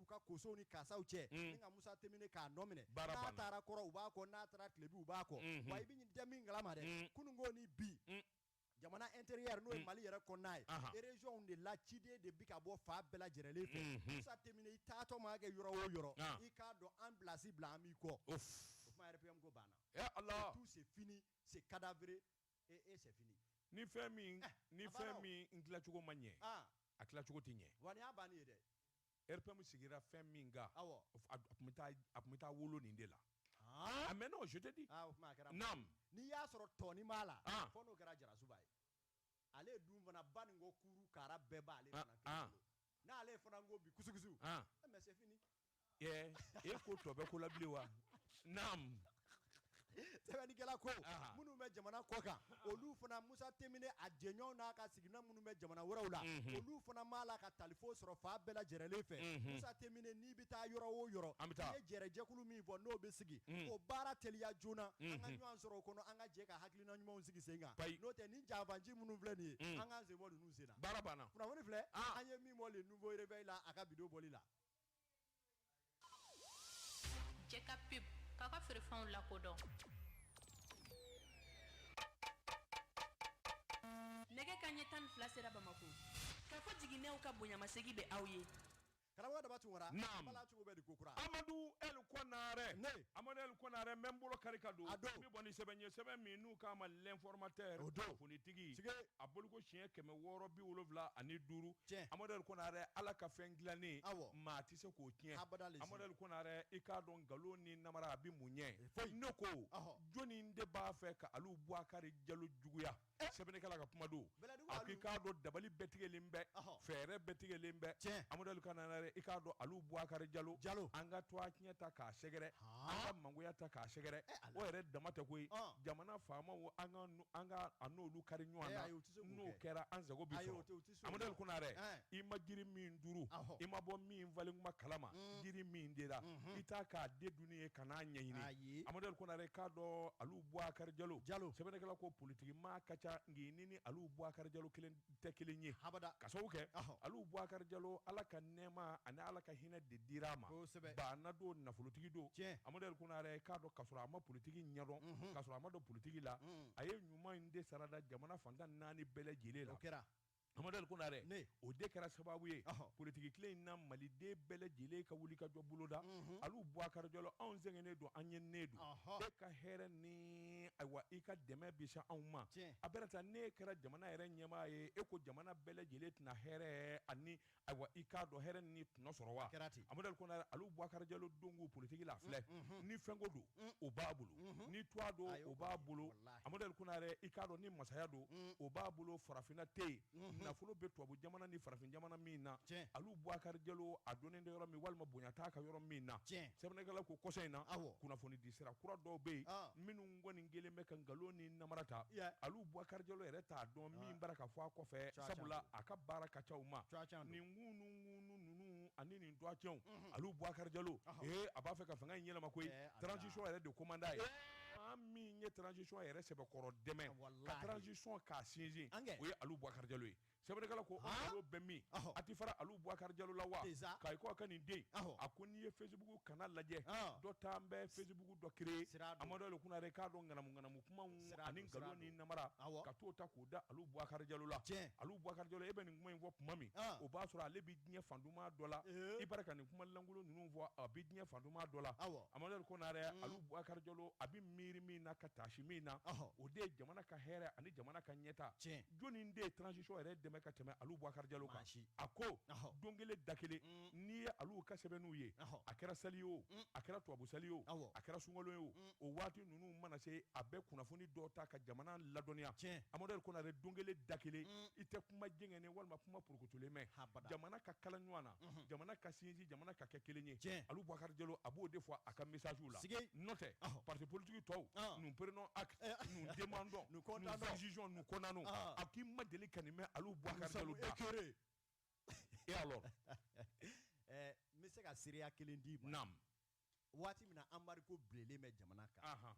Speaker 3: k'u ka kosow ni kasaw cɛ ni ka Moussa Timbiné k'a nɔ minɛ n'a taara kɔrɔn u b'a kɔ n'a taara tilebin u b'a kɔ wa i bɛ ɲinja min kalama dɛ kununko ni bi jamana intérieur n'o ye Mali yɛrɛ kɔnɔna ye région de la ciden de bi ka bɔ fan bɛɛ lajɛlen fɛ Moussa Timbiné i taatɔ mana kɛ yɔrɔ o yɔrɔ i k'a dɔn an place bila an b'i kɔ o tuma RPM ko banna tout c'est fini c'est cadavéré c'est fini ni fɛn min
Speaker 2: ni fɛn min n dilacogo ma ɲɛ a dilacogo tɛ ɲɛ wa nin y'a bannen ye dɛ
Speaker 3: RPM
Speaker 2: sigira fɛn min kan a tun bɛ taa wolo nin de la a mais non je te dis naam n'i y'a sɔrɔ
Speaker 3: tɔnin b'a la fɔ n'o kɛra Diarrassouba ye ale dun fana ba nin ko kuru kara bɛɛ b'ale fana kelen bolo n'ale fana
Speaker 2: ko bi kusukusu mais c'est
Speaker 3: fini
Speaker 2: e
Speaker 3: ko tɔ
Speaker 2: bɛ
Speaker 3: ko la
Speaker 2: bilen wa
Speaker 3: sɛbɛnnikɛla ko Ahan. minnu bɛ jamana kɔ kan olu fana Musa Temine a jɛɲɔgɔnw n'a ka sigiɲɔgɔn minnu bɛ jamana wɛrɛw la olu fana b'a la ka talifo sɔrɔ fan bɛɛ lajɛrɛlen fɛ Musa Temine n'i bɛ taa yɔrɔ o yɔrɔ An bɛ taa. i ye jɛrɛjɛkulu min fɔ n'o bɛ sigi o baara teliya joona an ka ɲɔgɔn sɔrɔ o kɔnɔ an ka jɛ ka hakilina ɲumanw sigi sen kan Bayi. n'o tɛ ni janfanci minnu filɛ nin ye an k'an sen bɔ ninnu sen na baara banna kunnafoni filɛ
Speaker 2: Ah. an ye
Speaker 3: min bɔ le nouveau réveil la a ka vidéo bɔli la
Speaker 4: Cɛ ka pub k'a ka feerefɛnw lakodɔn nɛgɛ kanɲɛ tan ni fila sera bamakɔ ka ko jiginw ka bonyamasegin bɛ aw ye
Speaker 3: karamɔgɔda tun
Speaker 2: Amadu El Konare Amadu El Konare n bɛ n bolo kari ka don n bɛ bɔ ni sɛbɛn ye sɛbɛn min n'u k'a ma l'informateur kunnafonitigi a bɔko siɲɛ kɛmɛ wɔɔrɔ bi wolonwula ani duuru tiɲɛ Amadu El Konare Ala ka fɛn dilannen awɔ maa tɛ se k'o tiɲɛ abada Amadu El Konare i k'a dɔn nkalon ni namara a bɛ mun ɲɛ foyi ne ko jɔni de b'a fɛ ka Alu Bubakari Jalo juguya eh! sɛbɛnnikɛla ka kuma don a ko i k'a dɔn dabali bɛɛ tigɛlen bɛ fɛɛrɛ bɛɛ tigɛlen bɛ tiɲɛ Amadu El Konare i k'a dɔn Alu Bubakari Jalo Jalo an ka tɔgɔtiɲɛ ta k'a sɛgɛrɛ an ka mangoya ta k'a sɛgɛrɛ eh, o yɛrɛ dama tɛ koyi jamana faamaw an ka an ka a n'olu kari ɲɔgɔn na eh, n'o kɛra an sago bɛ sɔrɔ Amadu El Konare i ma jiri min turu i ma bɔ min falen kuma kalama mm. jiri min denna mm-hmm. i t'a k'a den dunni ye ka n'a ɲɛɲini Amadu El Konare k'a dɔn Alu Bubakari Jalo sɛbɛnnikɛla ko politiki maa ka ca nka nin ni Alu Bubakari Jalo kelen tɛ kelen ye ka sababu kɛ Alu Bubakari Jalo Ala ka nɛɛma ani Ala ka hinɛ de dira a ma baana don nafolotigi don Amadu El Konare k'a dɔn k'a sɔrɔ a ma politiki ɲɛdɔn mm-hmm. k'a sɔrɔ a ma don politiki la mm. a ye ɲuman in de sarada jamana fan tan ni naani bɛɛ lajɛlen la o kɛra Amadu El Konare o de kɛra sababu ye politiki tile in na maliden bɛɛ lajɛlen ka wuli ka jɔ bulonda Alu Bubakari Jalo anw sɛgɛnnen don an ɲɛninen don e ka hɛrɛ ni ayiwa i ka dɛmɛ bɛ se anw ma a bɛ taa n'e kɛra jamana yɛrɛ ɲɛmaa ye e ko jamana bɛɛ lajɛlen tɛna hɛrɛ ani ayiwa i k'a dɔn hɛrɛ ni tɔnɔ sɔrɔ wa kɛra ten Amadu El Konare Alu Bubakari Jalo donko politiki la filɛ ni fɛnko don o b'a bolo ni tɔgɔ don o b'a bolo Amadu El Konare i k'a dɔn ni masaya don o b'a bolo farafinna tɛ yen nafolo bɛ tubabu jamana ni farafin jamana min na Alu Bubakari Jalo a dɔnnen tɛ yɔrɔ min walima bonya t'a kan yɔrɔ min na sɛbɛnnikɛla ko kɔsa in na kunnafoni di sira kura dɔw bɛ yen minnu n kɔni kɛlen bɛ ka nkalon ni namara ta Alu Bubakari Jalo yɛrɛ t'a dɔn min b'a ra ka fɔ a kɔfɛ sabula a ka baara ka ca ma nin ŋunuŋunu ninnu ani nin tɔgɔtiɲɛw Alu Bubakari Jalo ee a b'a fɛ ka fanga in yɛlɛma koyi transition yɛrɛ de ko man d'a ye maa min ye transition yɛrɛ sɛbɛkɔrɔ dɛmɛ ka transition k'a sinsin o ye Alu Bubakari Jalo ye sɛbɛnnikɛla ko nkalon bɛ min a tɛ fara Alu Bubakari Jalo la wa k'a ye ko a ka nin den a ko n'i ye Facebook kanna lajɛ dɔ ta n bɛ Facebook dɔ créer Amadu El Konare k'a dɔn ŋanamu ŋanamu kumaw ani nkalon ni namara ka t'o ta k'o da Alu Bubakari Jalo la Alu Bubakari Jalo e bɛ nin kuma in fɔ tuma min o b'a sɔrɔ ale bɛ diɲɛ fan duman dɔ la i bari ka nin kuma lankolon ninnu fɔ a bɛ diɲɛ fan duman dɔ la Amadu El Konare Alu Bubakari Jalo a bɛ miiri min na ka taasi min na o de ye jamana ka hɛrɛ ani jamana ka ɲɛtaa. jɔnni de ye transition yɛrɛ dɛmɛ ka tɛmɛ Alu Bubakari Jalo kan? A ko don kelen da kelen mm. n'i ye Alu ka sɛbɛnniw ye, a kɛra sali ye o, mm. a kɛra tubabu sali ye o, a kɛra sunkalo ye o, mm. o waati ninnu mana se, a bɛ kunnafoni dɔ ta ka jamana ladɔnniya. Tiɲɛ. Amadu Konare don kelen da kelen i tɛ kuma jɛngɛnen walima kuma porokotolen mɛn jamana ka kala ɲɔgɔn na. jamana ka sinji jamana ka kɛ kelen ye olu bakari jalo a b'o de fɔ a ka misasiw la nɔ tɛ pate politigi tɔw npre dɔndenj ko a k'i ma deli ka nin mɛn olu bɔ e n bɛ
Speaker 3: se ka seereya kelen di waati min na embargo bilelen bɛ jamana kan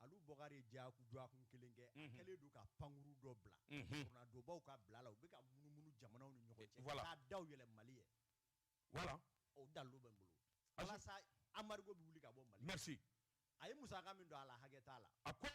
Speaker 3: Alu Bubakari Jalo ye dɔgɔkun kelen kɛ a kɛlen don ka pankurun dɔ bila dɔnbaw ka bila la u bɛ ka munumunu jamanaw ni ɲɔgɔn cɛ ka daw yɛlɛ Mali ye voilà o dalilu bɛ n bolo walasa embargo bɛ wuli ka bɔ Mali merci a ye musaka min don a la hakɛ t'a la a ko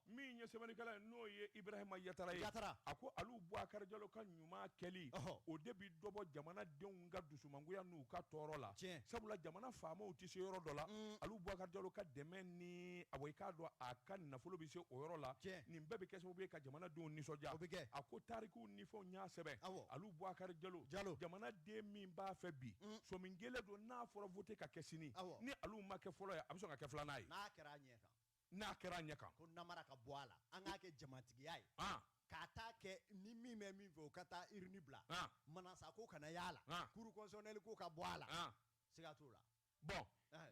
Speaker 2: min ye sɛbɛnnikɛla ye n'o ye Ibrahima Yatara ye Yatara a ko Alu Bubakari Jalo ka ɲuman kɛli o de bɛ dɔ bɔ jamanadenw ka dusumangoya n'u ka tɔɔrɔ la tiɲɛ sabula jamana faamaw tɛ se yɔrɔ dɔ la Alu Bubakari Jalo ka dɛmɛ ni a i k'a dɔn a ka nafolo bɛ se o yɔrɔ la tiɲɛ nin bɛɛ bɛ kɛ sababu ye ka jamanadenw nisɔndiya o bɛ kɛ a ko tarikuw ni fɛnw y'a sɛbɛn awɔ Alu Bubakari Jalo Jalo jamanaden min b'a fɛ bi somin kelen don n'a fɔra vote ka kɛ sini awɔ ni Alu ma kɛ fɔlɔ ye a bɛ sɔn ka kɛ filanan ye n'a kɛra a ɲɛ kan n'a kɛra a ɲɛ kan ko namara ka bɔ a
Speaker 3: la an k'a kɛ jamatigiya ye k'a taa kɛ ni min bɛ min fɛ o ka taa urne bila Manasa ko kana y'a la cour constitutionnelle ko ka bɔ a la siga
Speaker 2: t'o la
Speaker 3: bon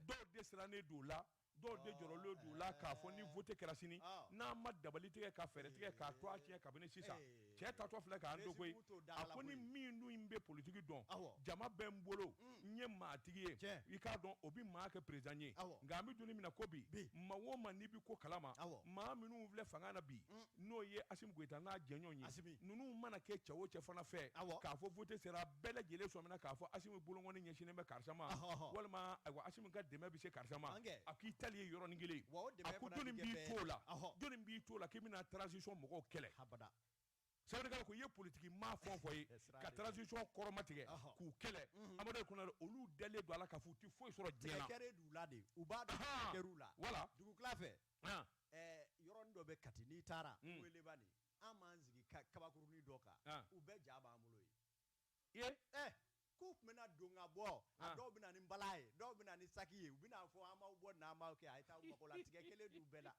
Speaker 3: dɔw
Speaker 2: de
Speaker 3: sirannen
Speaker 2: don
Speaker 3: la
Speaker 2: dɔw de jɔrɔlen don la k'a fɔ ni vote kɛra sini n'an ma dabali tigɛ ka fɛɛrɛ tigɛ k'a to a tiɲɛ kabini sisan cɛ tatɔ filɛ k'an dogo ye a ko ni min dun n bɛ politiki dɔn jama bɛ n bolo n ye maatigi ye i k'a dɔn o bɛ maa kɛ président ye nka an bɛ don min na ko bi maa o maa n'i bɛ ko kalama maa minnu filɛ fanga na bi n'o ye Assimi Goïta n'a jɛɲɔgɔn ye ninnu mana kɛ cɛ o cɛ fana fɛ k'a fɔ vote sera bɛɛ lajɛlen sɔmina k'a fɔ Assimi bolokɔni ɲɛsinnen bɛ karisa ma walima a Assimi ka dɛmɛ bɛ se karisa ma a k'i tali ye yɔrɔnin kelen a ko jɔnni b'i to la k'i bɛna transition mɔgɔw kɛlɛ abada sɛbɛnnikɛla ko i ye politiki maa fɛn o fɛn ye ka transition kɔrɔmatigɛ k'u kɛlɛ mhm. Amadu Kɔnare olu dalen don a la k'a fɔ u tɛ foyi sɔrɔ diɲɛ na kɛrɛ d'u la de u b'a
Speaker 3: dɔn kɛr'u la voilà dugukila fɛ yɔrɔnin dɔ bɛ Kati n'i taara mm. Welebanin an b'an sigi kabakurunin dɔ kan u bɛɛ ja b'an bolo yen k'u tun bɛna don ka bɔ a dɔw bɛ na ni bala ye dɔw bɛ na ni saki ye u bɛn'a fɔ an b'aw bɔ n'an b'aw kɛ a ye taa aw mago la tigɛ kelen d'u bɛɛ la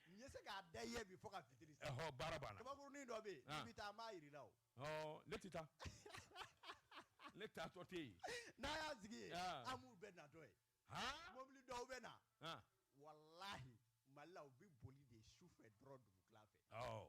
Speaker 3: n ye se k'a da i ye bi fo ka fitiri baara banna
Speaker 2: kabakurunin dɔ bɛ yen n'i
Speaker 3: bɛ taa an b'a yira i la ne tɛ
Speaker 2: taa ne taatɔ tɛ yen n'an y'an sigi
Speaker 3: yen an b'u bɛɛ natɔ ye Haan! Mobili dɔw bɛ na, An! walahi Mali la, u bɛ boli de su fɛ dɔrɔn dugukila fɛ. Awɔ.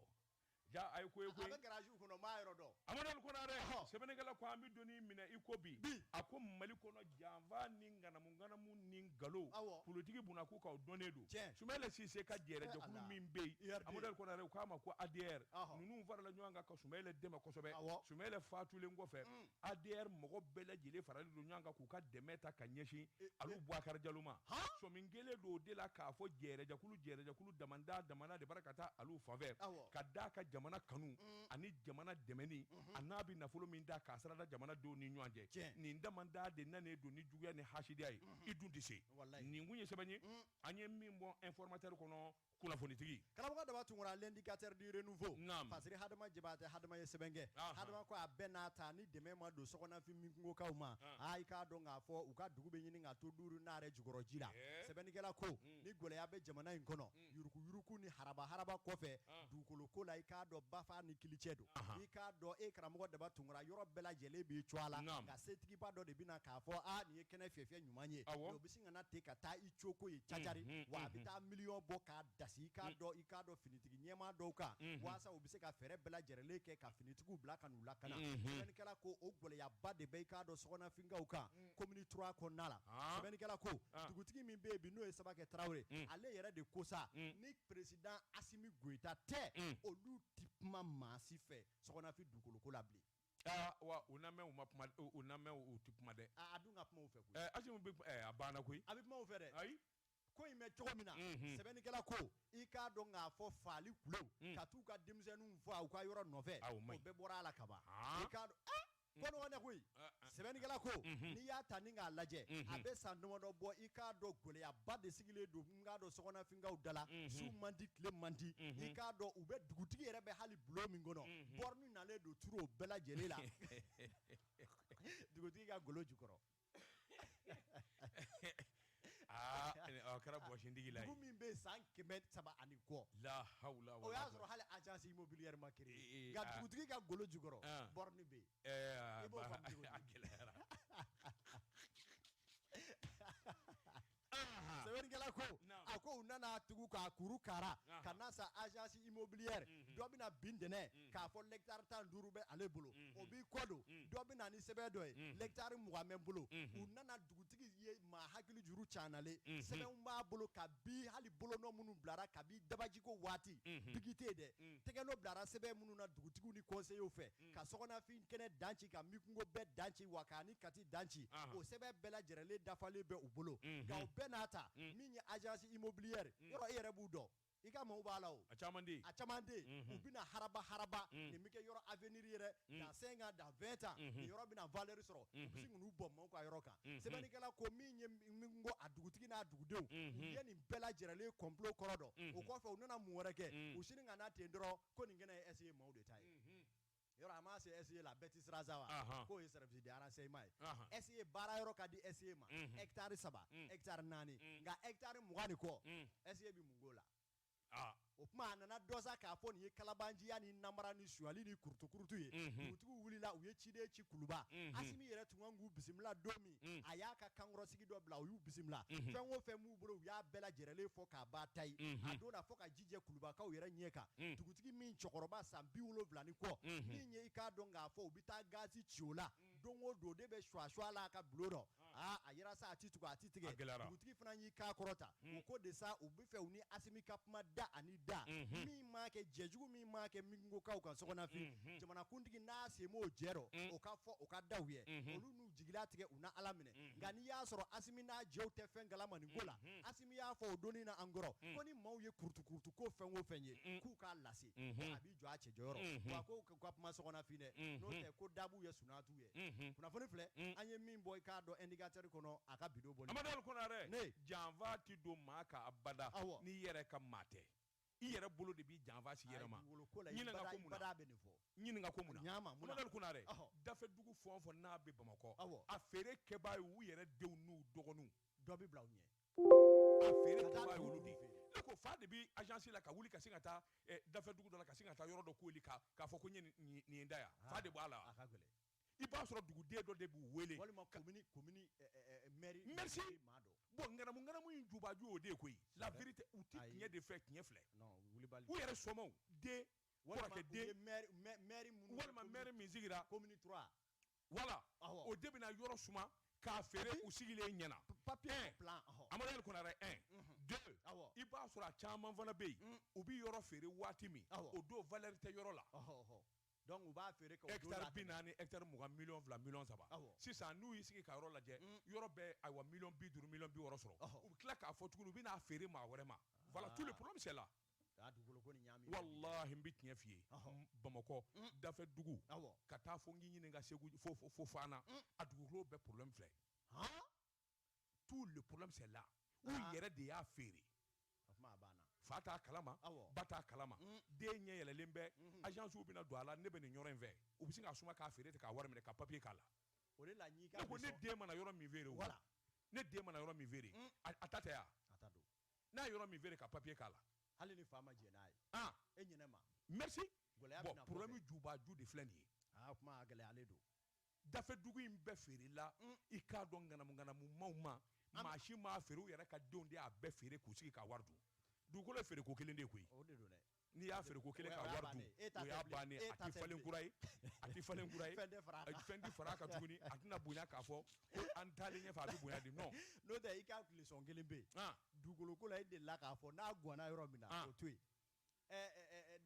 Speaker 3: Jaa a ye
Speaker 2: ko ye koyi! A bɛ garage kɔnɔ, n m'a
Speaker 3: yɔrɔ dɔn. Amadu Ali Kɔnare! Ɔhɔ!
Speaker 2: Sɛbɛnnikɛla ko an bɛ don min na i ko bi. Bi! A ko Mali kɔnɔ, janfa ni ŋanamu ŋanamu ni nkalon, Awɔ! politiki bunakun kan, o dɔnnen don. Tiɲɛ! Sumayila Sise ka jɛɛrɛjɛkulu min bɛ yen, URD. Amadu Ali Kɔnare, u k'a ma ko ADR, Ɔhɔ! ninnu farala ɲɔgɔn kan ka Sumayila dɛmɛ kosɛbɛ. Awɔ! Sumayila faatulen kɔfɛ, Un! adr mɔgɔ bɛɛ lajɛlen faralen don ɲɔgɔn kan k'u ka dɛmɛ ta ka ɲɛsin eh, alu eh. buwakari jalo ma sɔmin kɛlen don o de la k'a fɔ jɛɛrɛjɛkulu jɛɛrɛjɛkulu damanda damana de bara ka taa alu fanfɛ ka d'a ka jamana kanu mm. ani jamana dɛmɛni mm-hmm. a n'a bɛ nafolo min da k'a sarada jamana denw ni ɲɔgɔn cɛ nin damanda de nanen don ni juguya ni hasidiya ye mm-hmm. i dun tɛ se nin kun ye sɛbɛn ye mm. an ye min bɔ informateur kɔnɔ kunnafonitigi karamɔgɔ daba tunkara
Speaker 3: l'indicateur du renouveau parce que hadama jabate hadama ye sɛbɛn kɛ hadama ko a bɛɛ n'a ta ni dɛmɛ ma don sɔgɔnafin minkungokaw ma aa i k'a dɔn k'a fɔ u ka dugu bɛ ɲini ka to duuru naare jukɔrɔ ji la sɛbɛnnikɛla ko ni gɛlɛya bɛ jamana in kɔnɔ yuruguyurugu ni haraba-haraba kɔfɛ dugukolo ko la i k'a dɔn bafa ni kilicɛ don i k'a dɔn e karamɔgɔ daba tunkara yɔrɔ bɛɛ lajɛlen b'i cɔ a la nka setigiba dɔ de bɛna k'a fɔ aa nin ye kɛnɛ fiyɛfiyɛ ɲuman ye ka na ten ka taa i coko ye cacari Unhun, wa a bɛ unhun. taa miliyɔn bɔ k'a dasi i k'a dɔn i k'a dɔn finitigi ɲɛmaa dɔw kan Unhun. waasa u bɛ se ka fɛɛrɛ bɛɛ lajɛrɛlen kɛ ka finitigiw bila ka n'u lakana Unhun. sɛbɛnnikɛla ko o gɛlɛyaba de bɛ i k'a dɔn sɔgɔnafinkaw kan komini trois kɔnɔna la Ah. sɛbɛnnikɛla ko Ah. dugutigi min bɛ yen bi n'o ye sabakɛ tarawele Mm. ale yɛrɛ de ko sa Mm. ni peresidan asimi goyita tɛ Mm. olu tɛ kuma maa si fɛ sɔgɔnafin dugukoloko la bilen aa wa u
Speaker 2: na mɛn u ma kuma u u na mɛn u u ti kuma dɛ a a dun ka kuma u fɛ koyi
Speaker 3: ɛɛ asimi bɛ ɛɛ a
Speaker 2: banna koyi a bɛ kuma u fɛ dɛ ayi
Speaker 3: ko in bɛ
Speaker 2: cogo
Speaker 3: min na Mhm. sɛbɛnnikɛla ko i k'a dɔn k'a fɔ faali kulew Mm. ka t'u ka denmisɛnninw faa u ka yɔrɔ nɔfɛ Ah, o man ɲi. bɛɛ bɔra a la kaban Ah. i k'a dɔn ah, ko nɔgɔn tɛ koyi Ah, ah. sɛbɛnnikɛla ko Mhm. n'i y'a ta ni k'a lajɛ Mhm. a bɛ san damadɔ bɔ i k'a dɔn gɛlɛyaba de sigilen don k'a dɔn sɔgɔnafinkaw da la su man di tile man di i k'a dɔn u bɛ dugutigi yɛrɛ bɛ hali bulon min kɔnɔ borne nalen don turu o bɛɛ lajɛlen la dugutigi ka golo jukɔrɔ
Speaker 2: aa kɛra bɔsintigi la min bɛ san
Speaker 3: kɛmɛ saba ani kɔ la
Speaker 2: o y'a sɔrɔ
Speaker 3: hali agence immobilière ma créé nka dugutigi ka golo jukɔrɔ borne bɛ yen i b'o faamu cogo di a gɛlɛyara sɛbɛnnikɛla ko a ko u nana tugu k'a kuru kara ka na sa agence immobilière mhm. dɔ bɛna bin dɛnɛ mhm. k'a fɔ l'hectare tan duuru bɛ ale bolo mhm. o b'i kɔ don dɔ bɛna ni sɛbɛn dɔ ye l'hectare mugan bɛ n bolo u nana dugutigi ye maa hakili juru canalen sɛbɛnw b'a bolo kabi hali bolonɔ minnu bilara kabi dabajiko waati biki tɛ dɛ tɛgɛnɔ bilara sɛbɛn minnu na dugutigiw ni conseillers fɛ ka sɔgɔnafin kɛnɛ dan ci ka minkungo bɛɛ dan ci wa k'a ni kati dan ci o sɛbɛn bɛɛ lajɛrɛlen dafalen bɛ u bolo nka o bɛɛ n'a ta min ye agence immobilière yɔrɔ e yɛrɛ b'u dɔn i ka maaw b'a la o a caman
Speaker 2: de u bɛna
Speaker 3: haraba haraba nin bɛɛ kɛ yɔrɔ avenir yɛrɛ dans cinq ans dans vingt ans nin yɔrɔ bɛna valeur sɔrɔ u bɛ sin ka n'u bɔ maaw ka yɔrɔ kan sɛbɛnnikɛla ko min ye minkungo a dugutigi n'a dugudenw ye nin bɛɛ lajɛrɛlen complot kɔrɔ dɔn o kɔfɛ u nana mun wɛrɛ kɛ u sini ka na ten dɔrɔn ko nin kɛnɛ ye SE maaw de ta ye yɔrɔ a ma se SE la bɛɛ tɛ siran sa wa k'o ye service de renseignement ye SE baara yɔrɔ ka di SE ma hectare saba hectare naani nka hectare mugan ni kɔ SE bɛ mun k'o la o tuma a nana dɔn sa k'a fɔ nin ye kalabanciya ni namara ni sonyali ni kurutukurutu ye dugutigiw wulila u ye ciden ci kuluba asimi yɛrɛ tun kan k'u bisimila don min a y'a ka kankɔrɔsigi dɔ bila u y'u bisimila fɛn o fɛn b'u bolo u y'a bɛɛ lajɛrɛlen fɔ k'a ba ta ye a don fɔ ka jɛ kulubakaw yɛrɛ ɲɛ kan mm. dugutigi min cɛkɔrɔba san bi wolonwula ni kɔ mm-hmm. min ye i k'a dɔn k'a fɔ u bɛ taa gazi ci o la mm. don o don de bɛ suwasuwa la a ka bulon dɔ ah. aa ah, a yɛrɛ sa a ti tugu a ti tigɛ dugutigi fana y'i kan kɔrɔta mm. o ko de sa u bɛ fɛ u ni asimi ka kuma da ani da mm-hmm. min m'a kɛ jɛjugu min m'a kɛ minkungokaw kan sɔgɔnafin mm-hmm. jamanakuntigi n'a sen b'o jɛ rɔ o ka fɔ o ka da u ye olu n'u jigi latigɛ u na ala minɛ nka n'i y'a sɔrɔ asimi n'a jɛw tɛ fɛn kalama nin ko la y'a fɔ o don nin na an kɔrɔ mm. ko ni maaw ye kurutukurutu ko fɛn o fɛn ye mm. k'u k'a lase mm-hmm. a b'i jɔ a cɛ jɔyɔrɔ mm-hmm. wa ko ka kuma sɔgɔnafin dɛ mm-hmm. n'o tɛ ko dabu ye sunatu ye kunnafoni filɛ mm. an ye min bɔ i k'a dɔn indicateur kɔnɔ a ka bi don bɔli amadu konare
Speaker 2: ne janfa tɛ don maa kan abada n'i yɛrɛ ka maa tɛ i yɛrɛ bolo de b'i janfa s'i yɛrɛ ma Ayi, dugukolo ko la, i Ɲininka bada- ko mun na? i bada bɛ nin fɔ. Ɲininka ko mun na? Ɲaa ma, mun na? Amadu Konare, Ɔhɔ. dafɛ dugu fɛn o fɛn n'a bɛ Bamakɔ, Awɔ. a feere kɛbaa ye u yɛrɛ denw n'u dɔgɔninw. Dɔ bɛ bila u
Speaker 3: ɲɛ.
Speaker 2: A feere Ka taa kɛbaa ye dugu olu de ye. feere. Ne ko fa de bɛ agence la ka wuli ka sin ka taa eh, dafɛ dugu dɔ la ka sin ka taa yɔrɔ dɔ kooli k'a fɔ ko n ye nin- nin nin ye n ta ye yan. Fa de b'a la wa? A ka gɛlɛn. i b'a sɔrɔ duguden dɔ de b'u wele walima komini
Speaker 3: komini eh, eh, eh, mɛri merci maa
Speaker 2: dɔ bon nganamu nganamu in jubaju o de ye koyi la vérité u ti tiɲɛ de fɛ tiɲɛ filɛ non wulibali u yɛrɛ sɔmɔw den kɔrɔkɛ den mɛri minnu
Speaker 3: walima mɛri min
Speaker 2: sigira komini 3
Speaker 3: voilà
Speaker 2: o de bɛna yɔrɔ suma k'a feere u sigilen ɲɛna papier
Speaker 3: plan Amadu Ali Konare 1
Speaker 2: 2 i b'a sɔrɔ a caman fana bɛ yen mm. u bɛ yɔrɔ feere waati min o don valeur tɛ yɔrɔ la
Speaker 3: u b'a feere hectare bi
Speaker 2: naani hectare mugan million fila million saba sisan n'u y'i sigi ka yɔrɔ lajɛ mm. yɔrɔ bɛ ayiwa million bi duuru million bi wɔɔrɔ sɔrɔ u bɛ tila k'a fɔ tuguni u bɛn'a feere maa wɛrɛ ma voilà tout le problème c'est là walahi n bɛ tiɲɛ f'i ye bamakɔ mm. dafɛ dugu ka taa fo n k'i ɲininka segu fo fana a dugukolo bɛɛ problème filɛ tout le problème c'est là u ah. yɛrɛ de y'a feere fa t'a kalama ba t'a kalama mm. den ɲɛ yɛlɛlen bɛ mm-hmm. agencew bɛna don a la ne bɛ nin yɔrɔ in fɛ u bɛ sin k'a suma k'a feere ten k'a wari minɛ ka papier k'a la ne ko ne den mana yɔrɔ min feere o ne den mana yɔrɔ min feere mm. a ta tɛ ya n'a ye yɔrɔ min feere ka papier k'a la hali ni fa ma
Speaker 3: jɛn n'a ye ah. e ɲinɛ ma merci
Speaker 2: bon problème jubaju de filɛ nin ye ah, kuma gɛlɛyalen
Speaker 3: don dafɛ dugu
Speaker 2: in bɛɛ feerela mm. i k'a dɔn ŋanamuŋanamu maw ma maa si m'a feere u yɛrɛ ka denw de y'a bɛɛ feere k'u sigi ka wari dun dugukolo ye feere ko kelen de koyi n'i y'a feere ko kelen ka wari dun o y'a bannen a tɛ falen kura ye a tɛ falen kura ye fɛn tɛ fara a kan tuguni a tɛna bonya k'a fɔ ko an taalen ɲɛfɛ a bɛ bonya de non n'o tɛ i ka tilesɔn
Speaker 3: kelen bɛ yen dugukoloko la e delila k'a fɔ n'a gwanna yɔrɔ min na o to yen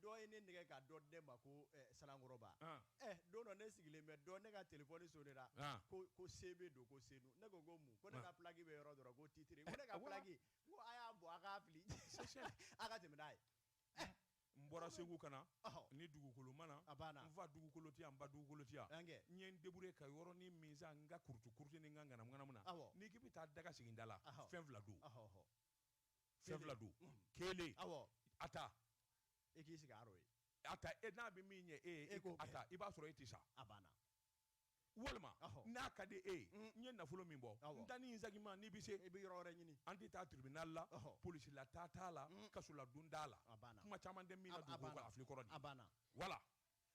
Speaker 3: dɔ ye ne nɛgɛn ka dɔ di ne ma ko sanankɔrɔba don dɔ ne sigilen bɛ dɔn ne ka téléphone sonnera ko CB don ko senu ne ko ko mun ko ne ka plaque bɛ yɔrɔ dɔrɔn ko titre ko a y'a bɔ a k'a fili a ka tɛmɛ n'a ye
Speaker 2: n bɔra segu ka na ni dugukolo ma na n fa dugukolo ti yan n ba dugukolo ti yan n ye n débrouiller ka yɔrɔnin min san n ka kurutu kurutu ni n ka ŋanamu na n'i k'i bɛ taa daga sigida la fɛn fila don fɛn fila don kelen a ta e k'i
Speaker 3: sigi a rɔ a ta e n'a
Speaker 2: bɛ min ɲɛ e ye e ko a ta i b'a sɔrɔ e tɛ sa a banna
Speaker 3: walima
Speaker 2: n'a ka di e ye mm. n ye nafolo min bɔ n ta nin sagi n ma n'i bɛ se i bɛ yɔrɔ wɛrɛ ɲini
Speaker 3: an tɛ taa tribunal
Speaker 2: la polisi la taa t'a la mm. kaso ladon t'a la kuma caman tɛ min na dugukolo kan a fili kɔrɔ a banna voilà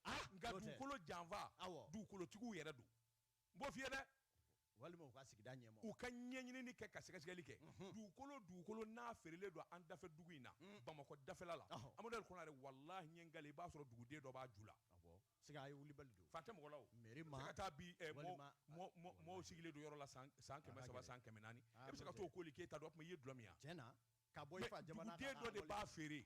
Speaker 2: ah, nka dugukolo janfa dugukolotigiw yɛrɛ don n b'o f'i ye dɛ walima u ka
Speaker 3: sigida ɲɛmɔgɔ, u ka ɲɛɲinini kɛ
Speaker 2: ka sɛgɛsɛgɛli kɛ dugukolo dugukolo n'a feerelen don an dafɛ dugu in na Bamakɔ dafɛla la Amadu Ali Konare walahi n ye n kale i b'a sɔrɔ duguden dɔ b'a ju la, awɔ, siga a ye wulibali
Speaker 3: don, fa tɛ mɔgɔ la o, mairie
Speaker 2: ma, i bɛ se ka taa bi mɔɔw sigilen don yɔrɔ la san san kɛmɛ saba san kɛmɛ naani e bɛ se ka t'o koli k'e ta don o tuma i ye dulɔ min ye wa, tiɲɛna, ka bɔ i fa jamana
Speaker 3: kan, mais duguden dɔ de b'a feere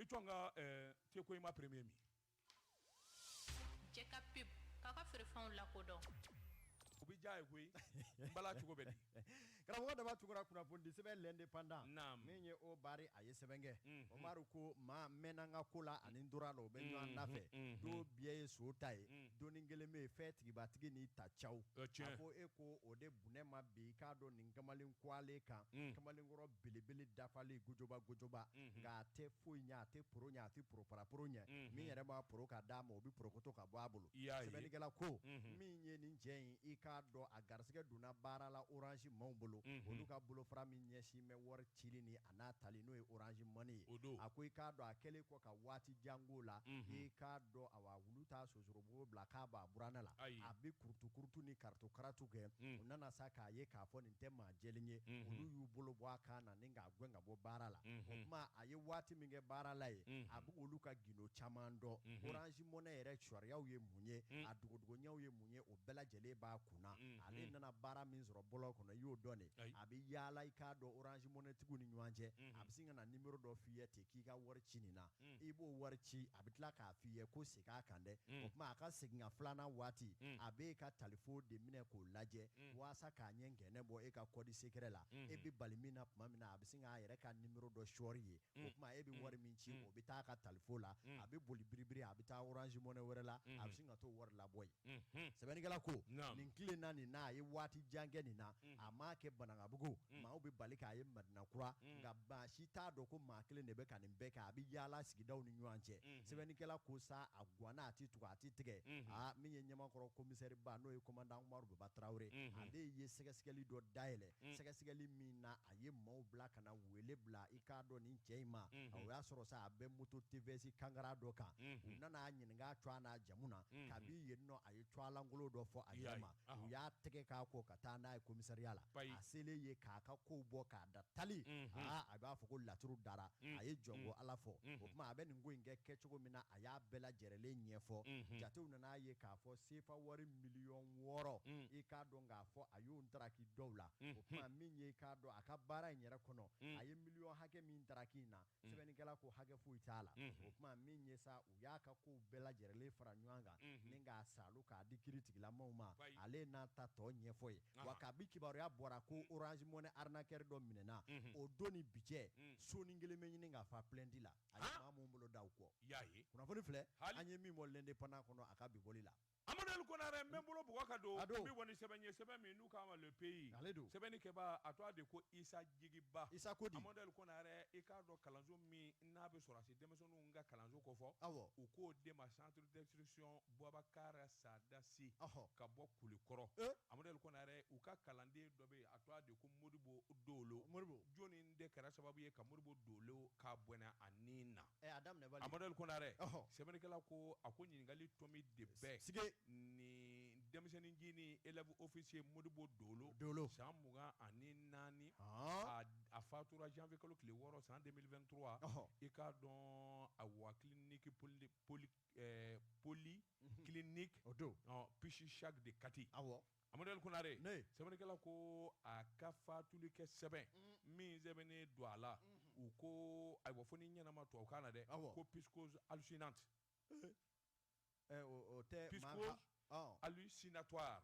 Speaker 2: i jɔn ka te koyima premier
Speaker 4: min jɛka
Speaker 2: pub k'a
Speaker 4: ka feerefɛnw lakodɔn o bɛ
Speaker 2: diya ye koyi n bala cogo bɛ di karamɔgɔ daba
Speaker 3: tugura kunnafonidi sɛbɛn l'indépendant naam min ye o
Speaker 2: bari
Speaker 3: a ye sɛbɛn kɛ umaru ko maa mɛnna n ka ko la ani n tora a la o bɛ ɲɔgɔn da fɛ don biɲɛ ye son ta ye donnin kelen bɛ yen fɛntigi b'a tigi n'i ta caw a ko e ko o de bunɛ ma bi i k'a dɔn nin kamalen kuwalen kan kamalenkɔrɔ belebele dafalen gojoba gojoba unhun nka a tɛ foyi ɲɛ a tɛ poro ɲɛ a tɛ poroparaporo ɲɛ unhun min yɛrɛ b'a poro ka d'a ma o bɛ porokoto ka bɔ a bolo i y'a ye sɛbɛnnikɛla ko unhun min ye nin cɛ in i k'a dɔn a garisigɛ donna baara la orange maaw bolo unhun olu ka bolofara min ɲɛsin bɛ wari cili ni a n'a tali n'o ye orange money ye o don a ko i k'a dɔn a kɛlen kɔ ka waati jan k'o la unhun i k'a dɔn awa wulu t'a so sorobugu bila k'a b'a buran la a bɛ kurutu kurutu ni karatu karatu kɛ u nana sa k'a ye k'a fɔ nin tɛ maa jɛlen ye olu y'u bolo bɔ a kan na ni k'a gɛn ka bɔ baara la o tuma a ye waati min kɛ baara la ye a bɛ olu ka gindo caman dɔn orange money yɛrɛ cogoyaw ye mun ye a dogodogoɲɛw ye mun ye o bɛɛ lajɛlen b'a kun na ale nana baara min sɔrɔ bɔlɔn kɔnɔ i y'o dɔn de a bɛ yaala i k'a dɔn orange money tigiw ni ɲɔgɔn cɛ a bɛ sin ka na nimero dɔ f'i ye ten k'i ka wari ci nin na mm. i b'o wari ci a bɛ tila k'a f'i ye ko segin a kan dɛ mm. o tuma a ka seginkan filanan waati mm. a bɛ e ka talifo de minɛ k'o lajɛ mm. waasa k'a ɲɛ ngɛnɛ bɔ e ka kɔdi sekɛrɛ la mm. e bɛ bali min na tuma min na a bɛ sin k'a yɛrɛ ka nimero dɔ sɔɔri yen mm. o tuma e bɛ mm. wari min ci mm. o bɛ taa a ka talifo la mm. a bɛ boli biribiri a bɛ taa orange money wɛrɛ la mm. a bɛ mm-hmm. sin ka t'o wari labɔ yen sɛbɛnnikɛla ko nin tile na nin na a ye waati jan kɛ nin na a m'a kɛ banankabugu maaw bɛ bali k'a ye madina kura nka maa si t'a dɔn ko maa kelen de bɛ ka nin bɛɛ kɛ a bɛ yaala sigidaw ni ɲɔgɔn cɛ sɛbɛnnikɛla ko sa a ganna a tɛ tugu a tɛ tigɛ aa min ye ɲamakɔrɔ komisɛriba n'o ye komandan umaru baba tarawele ale ye sɛgɛsɛgɛli dɔ dayɛlɛn sɛgɛsɛgɛli min na a ye maaw bila ka na wele bila i k'a dɔn ni cɛ in ma o y'a sɔrɔ sa a bɛ moto tvs kangara dɔ kan u nana a ɲininka a tɔgɔ n'a jamu na kabi yen nɔ a ye tɔgɔ lankolon dɔ fɔ a yɛrɛ ma u y'a tɛgɛ k'a kɔ ka taa n'a ye komisariya la a selen yen k'a ka kow bɔ k'a da tali aa a b'a fɔ ko laturu dara a ye jɔn ko ala fɔ o tuma a bɛ nin ko in kɛ kɛcogo min na a y'a bɛɛ lajɛrɛlen ɲɛfɔ jatew nana a ye k'a fɔ sefa wari miliyɔn wɔɔrɔ i k'a dɔn k'a fɔ a y'o ntaraki dɔw la o tuma min ye i k'a dɔn a ka baara in yɛrɛ kɔnɔ a ye miliyɔn hakɛ min ntaraki in na sɛbɛnnikɛla ko hakɛ foyi t'a la o tuma min ye sa u y'a ka kow bɛɛ lajɛrɛlen fara ɲɔgɔn kan ni k'a saalu k'a di kiri tigilamaw ma ale n'a ta tɔ ɲɛfɔ yen wa kabi kibaruya bɔra ko orange money arnaqueur dɔ minɛna o don ni bi cɛ soni kelen bɛ ɲini ka fa plainte la a ye maa minnu bolo da u kɔ kunnafoni filɛ an ye min bɔ l'indépendant kɔnɔ a ka bi bɔli la. Amadu Konare n
Speaker 2: bɛ n bolo bugɔ ka don n bɛ bɔ ni sɛbɛn ye sɛbɛn min n'u k'a ma le pays sɛbɛnni kɛbaa a tɔgɔ de ko Isa Jigiba Isa ko di Amadu
Speaker 3: Konare i
Speaker 2: k'a dɔn kalanso min n'a bɛ sɔrɔdasi denmisɛnninw ka kalanso kofɔ awɔ u k'o de ma centre d'instruction Bubakari Sada Si ɔhɔ ka bɔ Kulikɔrɔ e Amadu Konare u ka kalanden dɔ bɛ yen a tɔgɔ de ko Modibo Dolo Modibo jɔni de kɛra sababu ye ka Modibo Dolo k'a bɔnɛ a ni na ɛ a daminɛ bali, Amadu Konare, ɔhɔ, sɛbɛnnikɛla ko a ko ɲininkali tomi de bɛ sigi nin denmisɛnnincinin élève officier Modibo Dolo, Dolo, san mugan ani naani, ɔɔ, a a fatura janvier kalo tile wɔɔrɔ san 2023, ɔhɔ, i k'a dɔn a wa clinique poly poly ɛɛ poly clinique, o don, ɔ psychiatrique de Kati, awɔ. Amaduri Konare sɛbɛnnikɛla ko a ka fatuli kɛ sɛbɛn min sɛbɛnnen don a la u ko ayiwa fo ni ɲɛnama tubabukan na dɛ awɔ ko psychose
Speaker 3: hallucinante o tɛ
Speaker 2: psychose hallucinatoire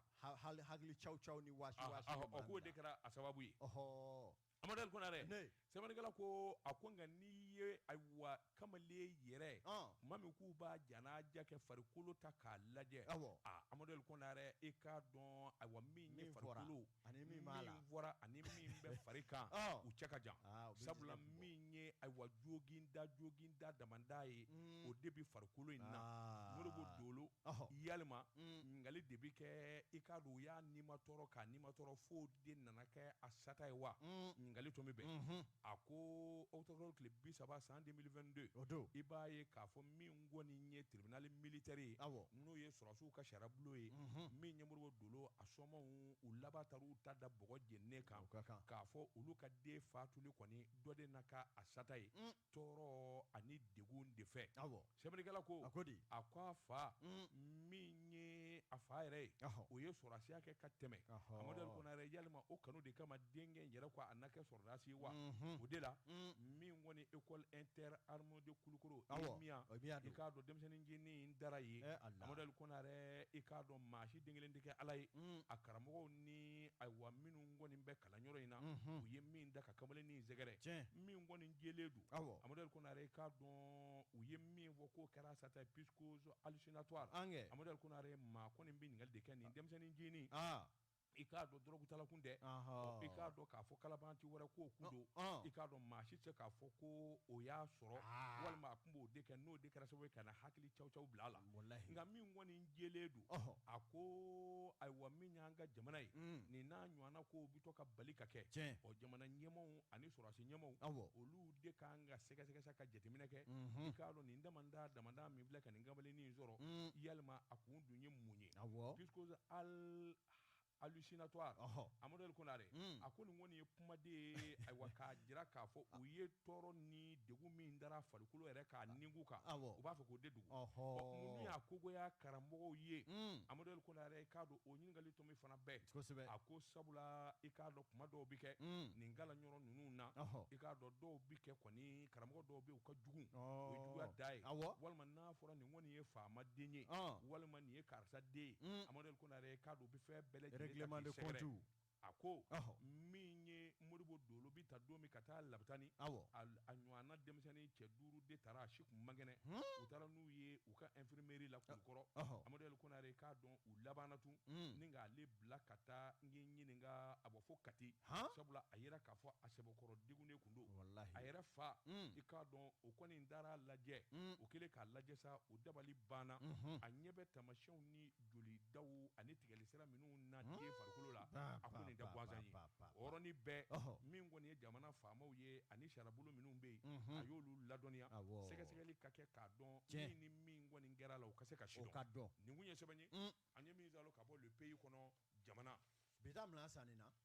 Speaker 2: hakili
Speaker 3: cawuni wa k'o de kɛra
Speaker 2: a sababu ye Amaduri Konare sɛbɛnnikɛla ko a ko nka n'i ye ayiwa kamalen yɛrɛ ɔn tuma min k'u b'a janaja kɛ farikolo ta k'a lajɛ awɔ aa Amaduri Konare i k'a dɔn ayiwa min ye min fɔra farikolo ani min b'a la min fɔra ani min bɛ fari kan ɔ u cɛ ka jan aa u bɛ sabula jigin min ye ayiwa joginda joginda damanda ye un o de bɛ farikolo in na aa Modibo Dolo ɔhɔ yalima un ɲininkali de bɛ kɛ i k'a dɔn u y'a nimatɔrɔ k'a nimatɔrɔ fo de nana kɛ a sata ye wa ɲininkali tomi bɛ yen a ko octobre kalo tile bi saba san 2022 i b'a ye k'a fɔ min kɔni ye tribunal militaire ye awɔ n'o ye sɔrɔsiw ka sariyabulon ye min ye Modibo Dolo a somaaw u laban taara u ta da bɔgɔ jeninen kan k'a fɔ olu ka den fatuli kɔni dɔ de na ka a sata ye tɔɔrɔ ani degun de fɛ sɛbɛnnikɛla ko a ko di a ko a fa min ye a fa yɛrɛ ye o ye sɔrɔdasiya kɛ ka tɛmɛ Amadu Konare yalima o kanu de kama denkɛ yɛrɛ ko a na kɛ sɔrɔdasi wa o de la min kɔni école interarmes de Kulukoro EMIA i k'a dɔn denmisɛnnincinin dara yen Amadu Konare i k'a dɔn maa si den kelen tɛ kɛ Ala ye a karamɔgɔw ni ayiwa minnu kɔni bɛ kalanyɔrɔ in na u ye min da ka kamalennin sɛgɛrɛ min kɔni jɛlen don Amaduri Konare i k'a dɔn u ye min fɔ k'o kɛra sata psychose hallucinatoire Amaduri Konare maa kɔni bɛ ɲininkali de kɛ nin denmisɛnnincinin i k'a dɔn dɔrɔgutala kun tɛ i k'a dɔn k'a fɔ kalabanti wɛrɛ ko kun don i k'a dɔn maa si tɛ se k'a fɔ ko o y'a sɔrɔ walima tun b'o de kɛ n'o de kɛra sababu ye ka na hakili caw caw bila a la walahi nka min kɔni jɛlen don ɔhɔ a ko ayiwa min y'an ka jamana ye mm. nin n'a ɲɔgɔnna ko bi to ka bali ka kɛ tiɲɛ ɔ jamana ɲɛmɔgɔw ani sɔrɔdasi ɲɛmɔgɔw awɔ olu de kan ka sɛgɛsɛgɛ sa ka jateminɛ kɛ mhm. i k'a dɔn nin damanda damanda min filɛ ka nin kamalennin in sɔrɔ mm. yalima a kun dun ye mun ye awɔ puisque al alusinatɔ amadu ali konare a ko nin kɔni ye kumaden ye ayiwa k'a jira k'a fɔ u ye tɔɔrɔ ni degun min dara farikolo yɛrɛ k'a nin kan u b'a fɔ k'o de dugu minnu y'a kogoya karamɔgɔw ye amadu ali konare k'a dɔn o ɲininkali tɔ min fana bɛɛ kosɛbɛ a ko sabula i k'a dɔn kuma dɔw bɛ kɛ nin kalanyɔrɔ ninnu na i k'a dɔn dɔw bɛ kɛ kɔni karamɔgɔ dɔw bɛ u ka jugu juguya da ye walima n'a fɔra nin kɔni ye faama den ye walima nin ye karisa den ye amadu Konare k'a dɔn u bɛ fɛn bɛɛ lajɛlen Règlement de compte a ko, ɔhɔ, min ye Modibo Dolo bɛ ta don min ka taa Labitani, awɔ, a a ɲɔɔnna denmisɛnnin cɛ duuru de taara u si tun man kɛnɛ, hun, u taara n'u ye u ka infirmerie la Kulukɔrɔ, ɔhɔ, Amadu Ali Konare k'a dɔn u labanna tun, un, ni k'ale bila ka taa n k'i ɲininka a bɔ fo Kati, han, sabula a yira k'a fɔ a sɛbɛkɔrɔ degunnen tun don, walahi, a yɛrɛ fa, un, i k'a dɔn o kɔni taara a lajɛ, un, o kɛlen k'a lajɛ sa o dabali banna, unhun, a ɲɛ bɛ taamasiyɛnw ni jolidaw ani tigɛli sira minnu na den farikolo la a ko nin tɛ gansan ye o yɔrɔnin bɛɛ min kɔni ye jamana faamaw ye ani sariyabolo minnu bɛ yen a y'olu ladɔnniya sɛgɛsɛgɛli ka kɛ k'a dɔn min ni min kɔni kɛra a la o ka se ka sidɔn nin kun ye sɛbɛn ye an ye min sɔrɔ ka bɔ Le Pays kɔnɔ jamana bi san
Speaker 3: na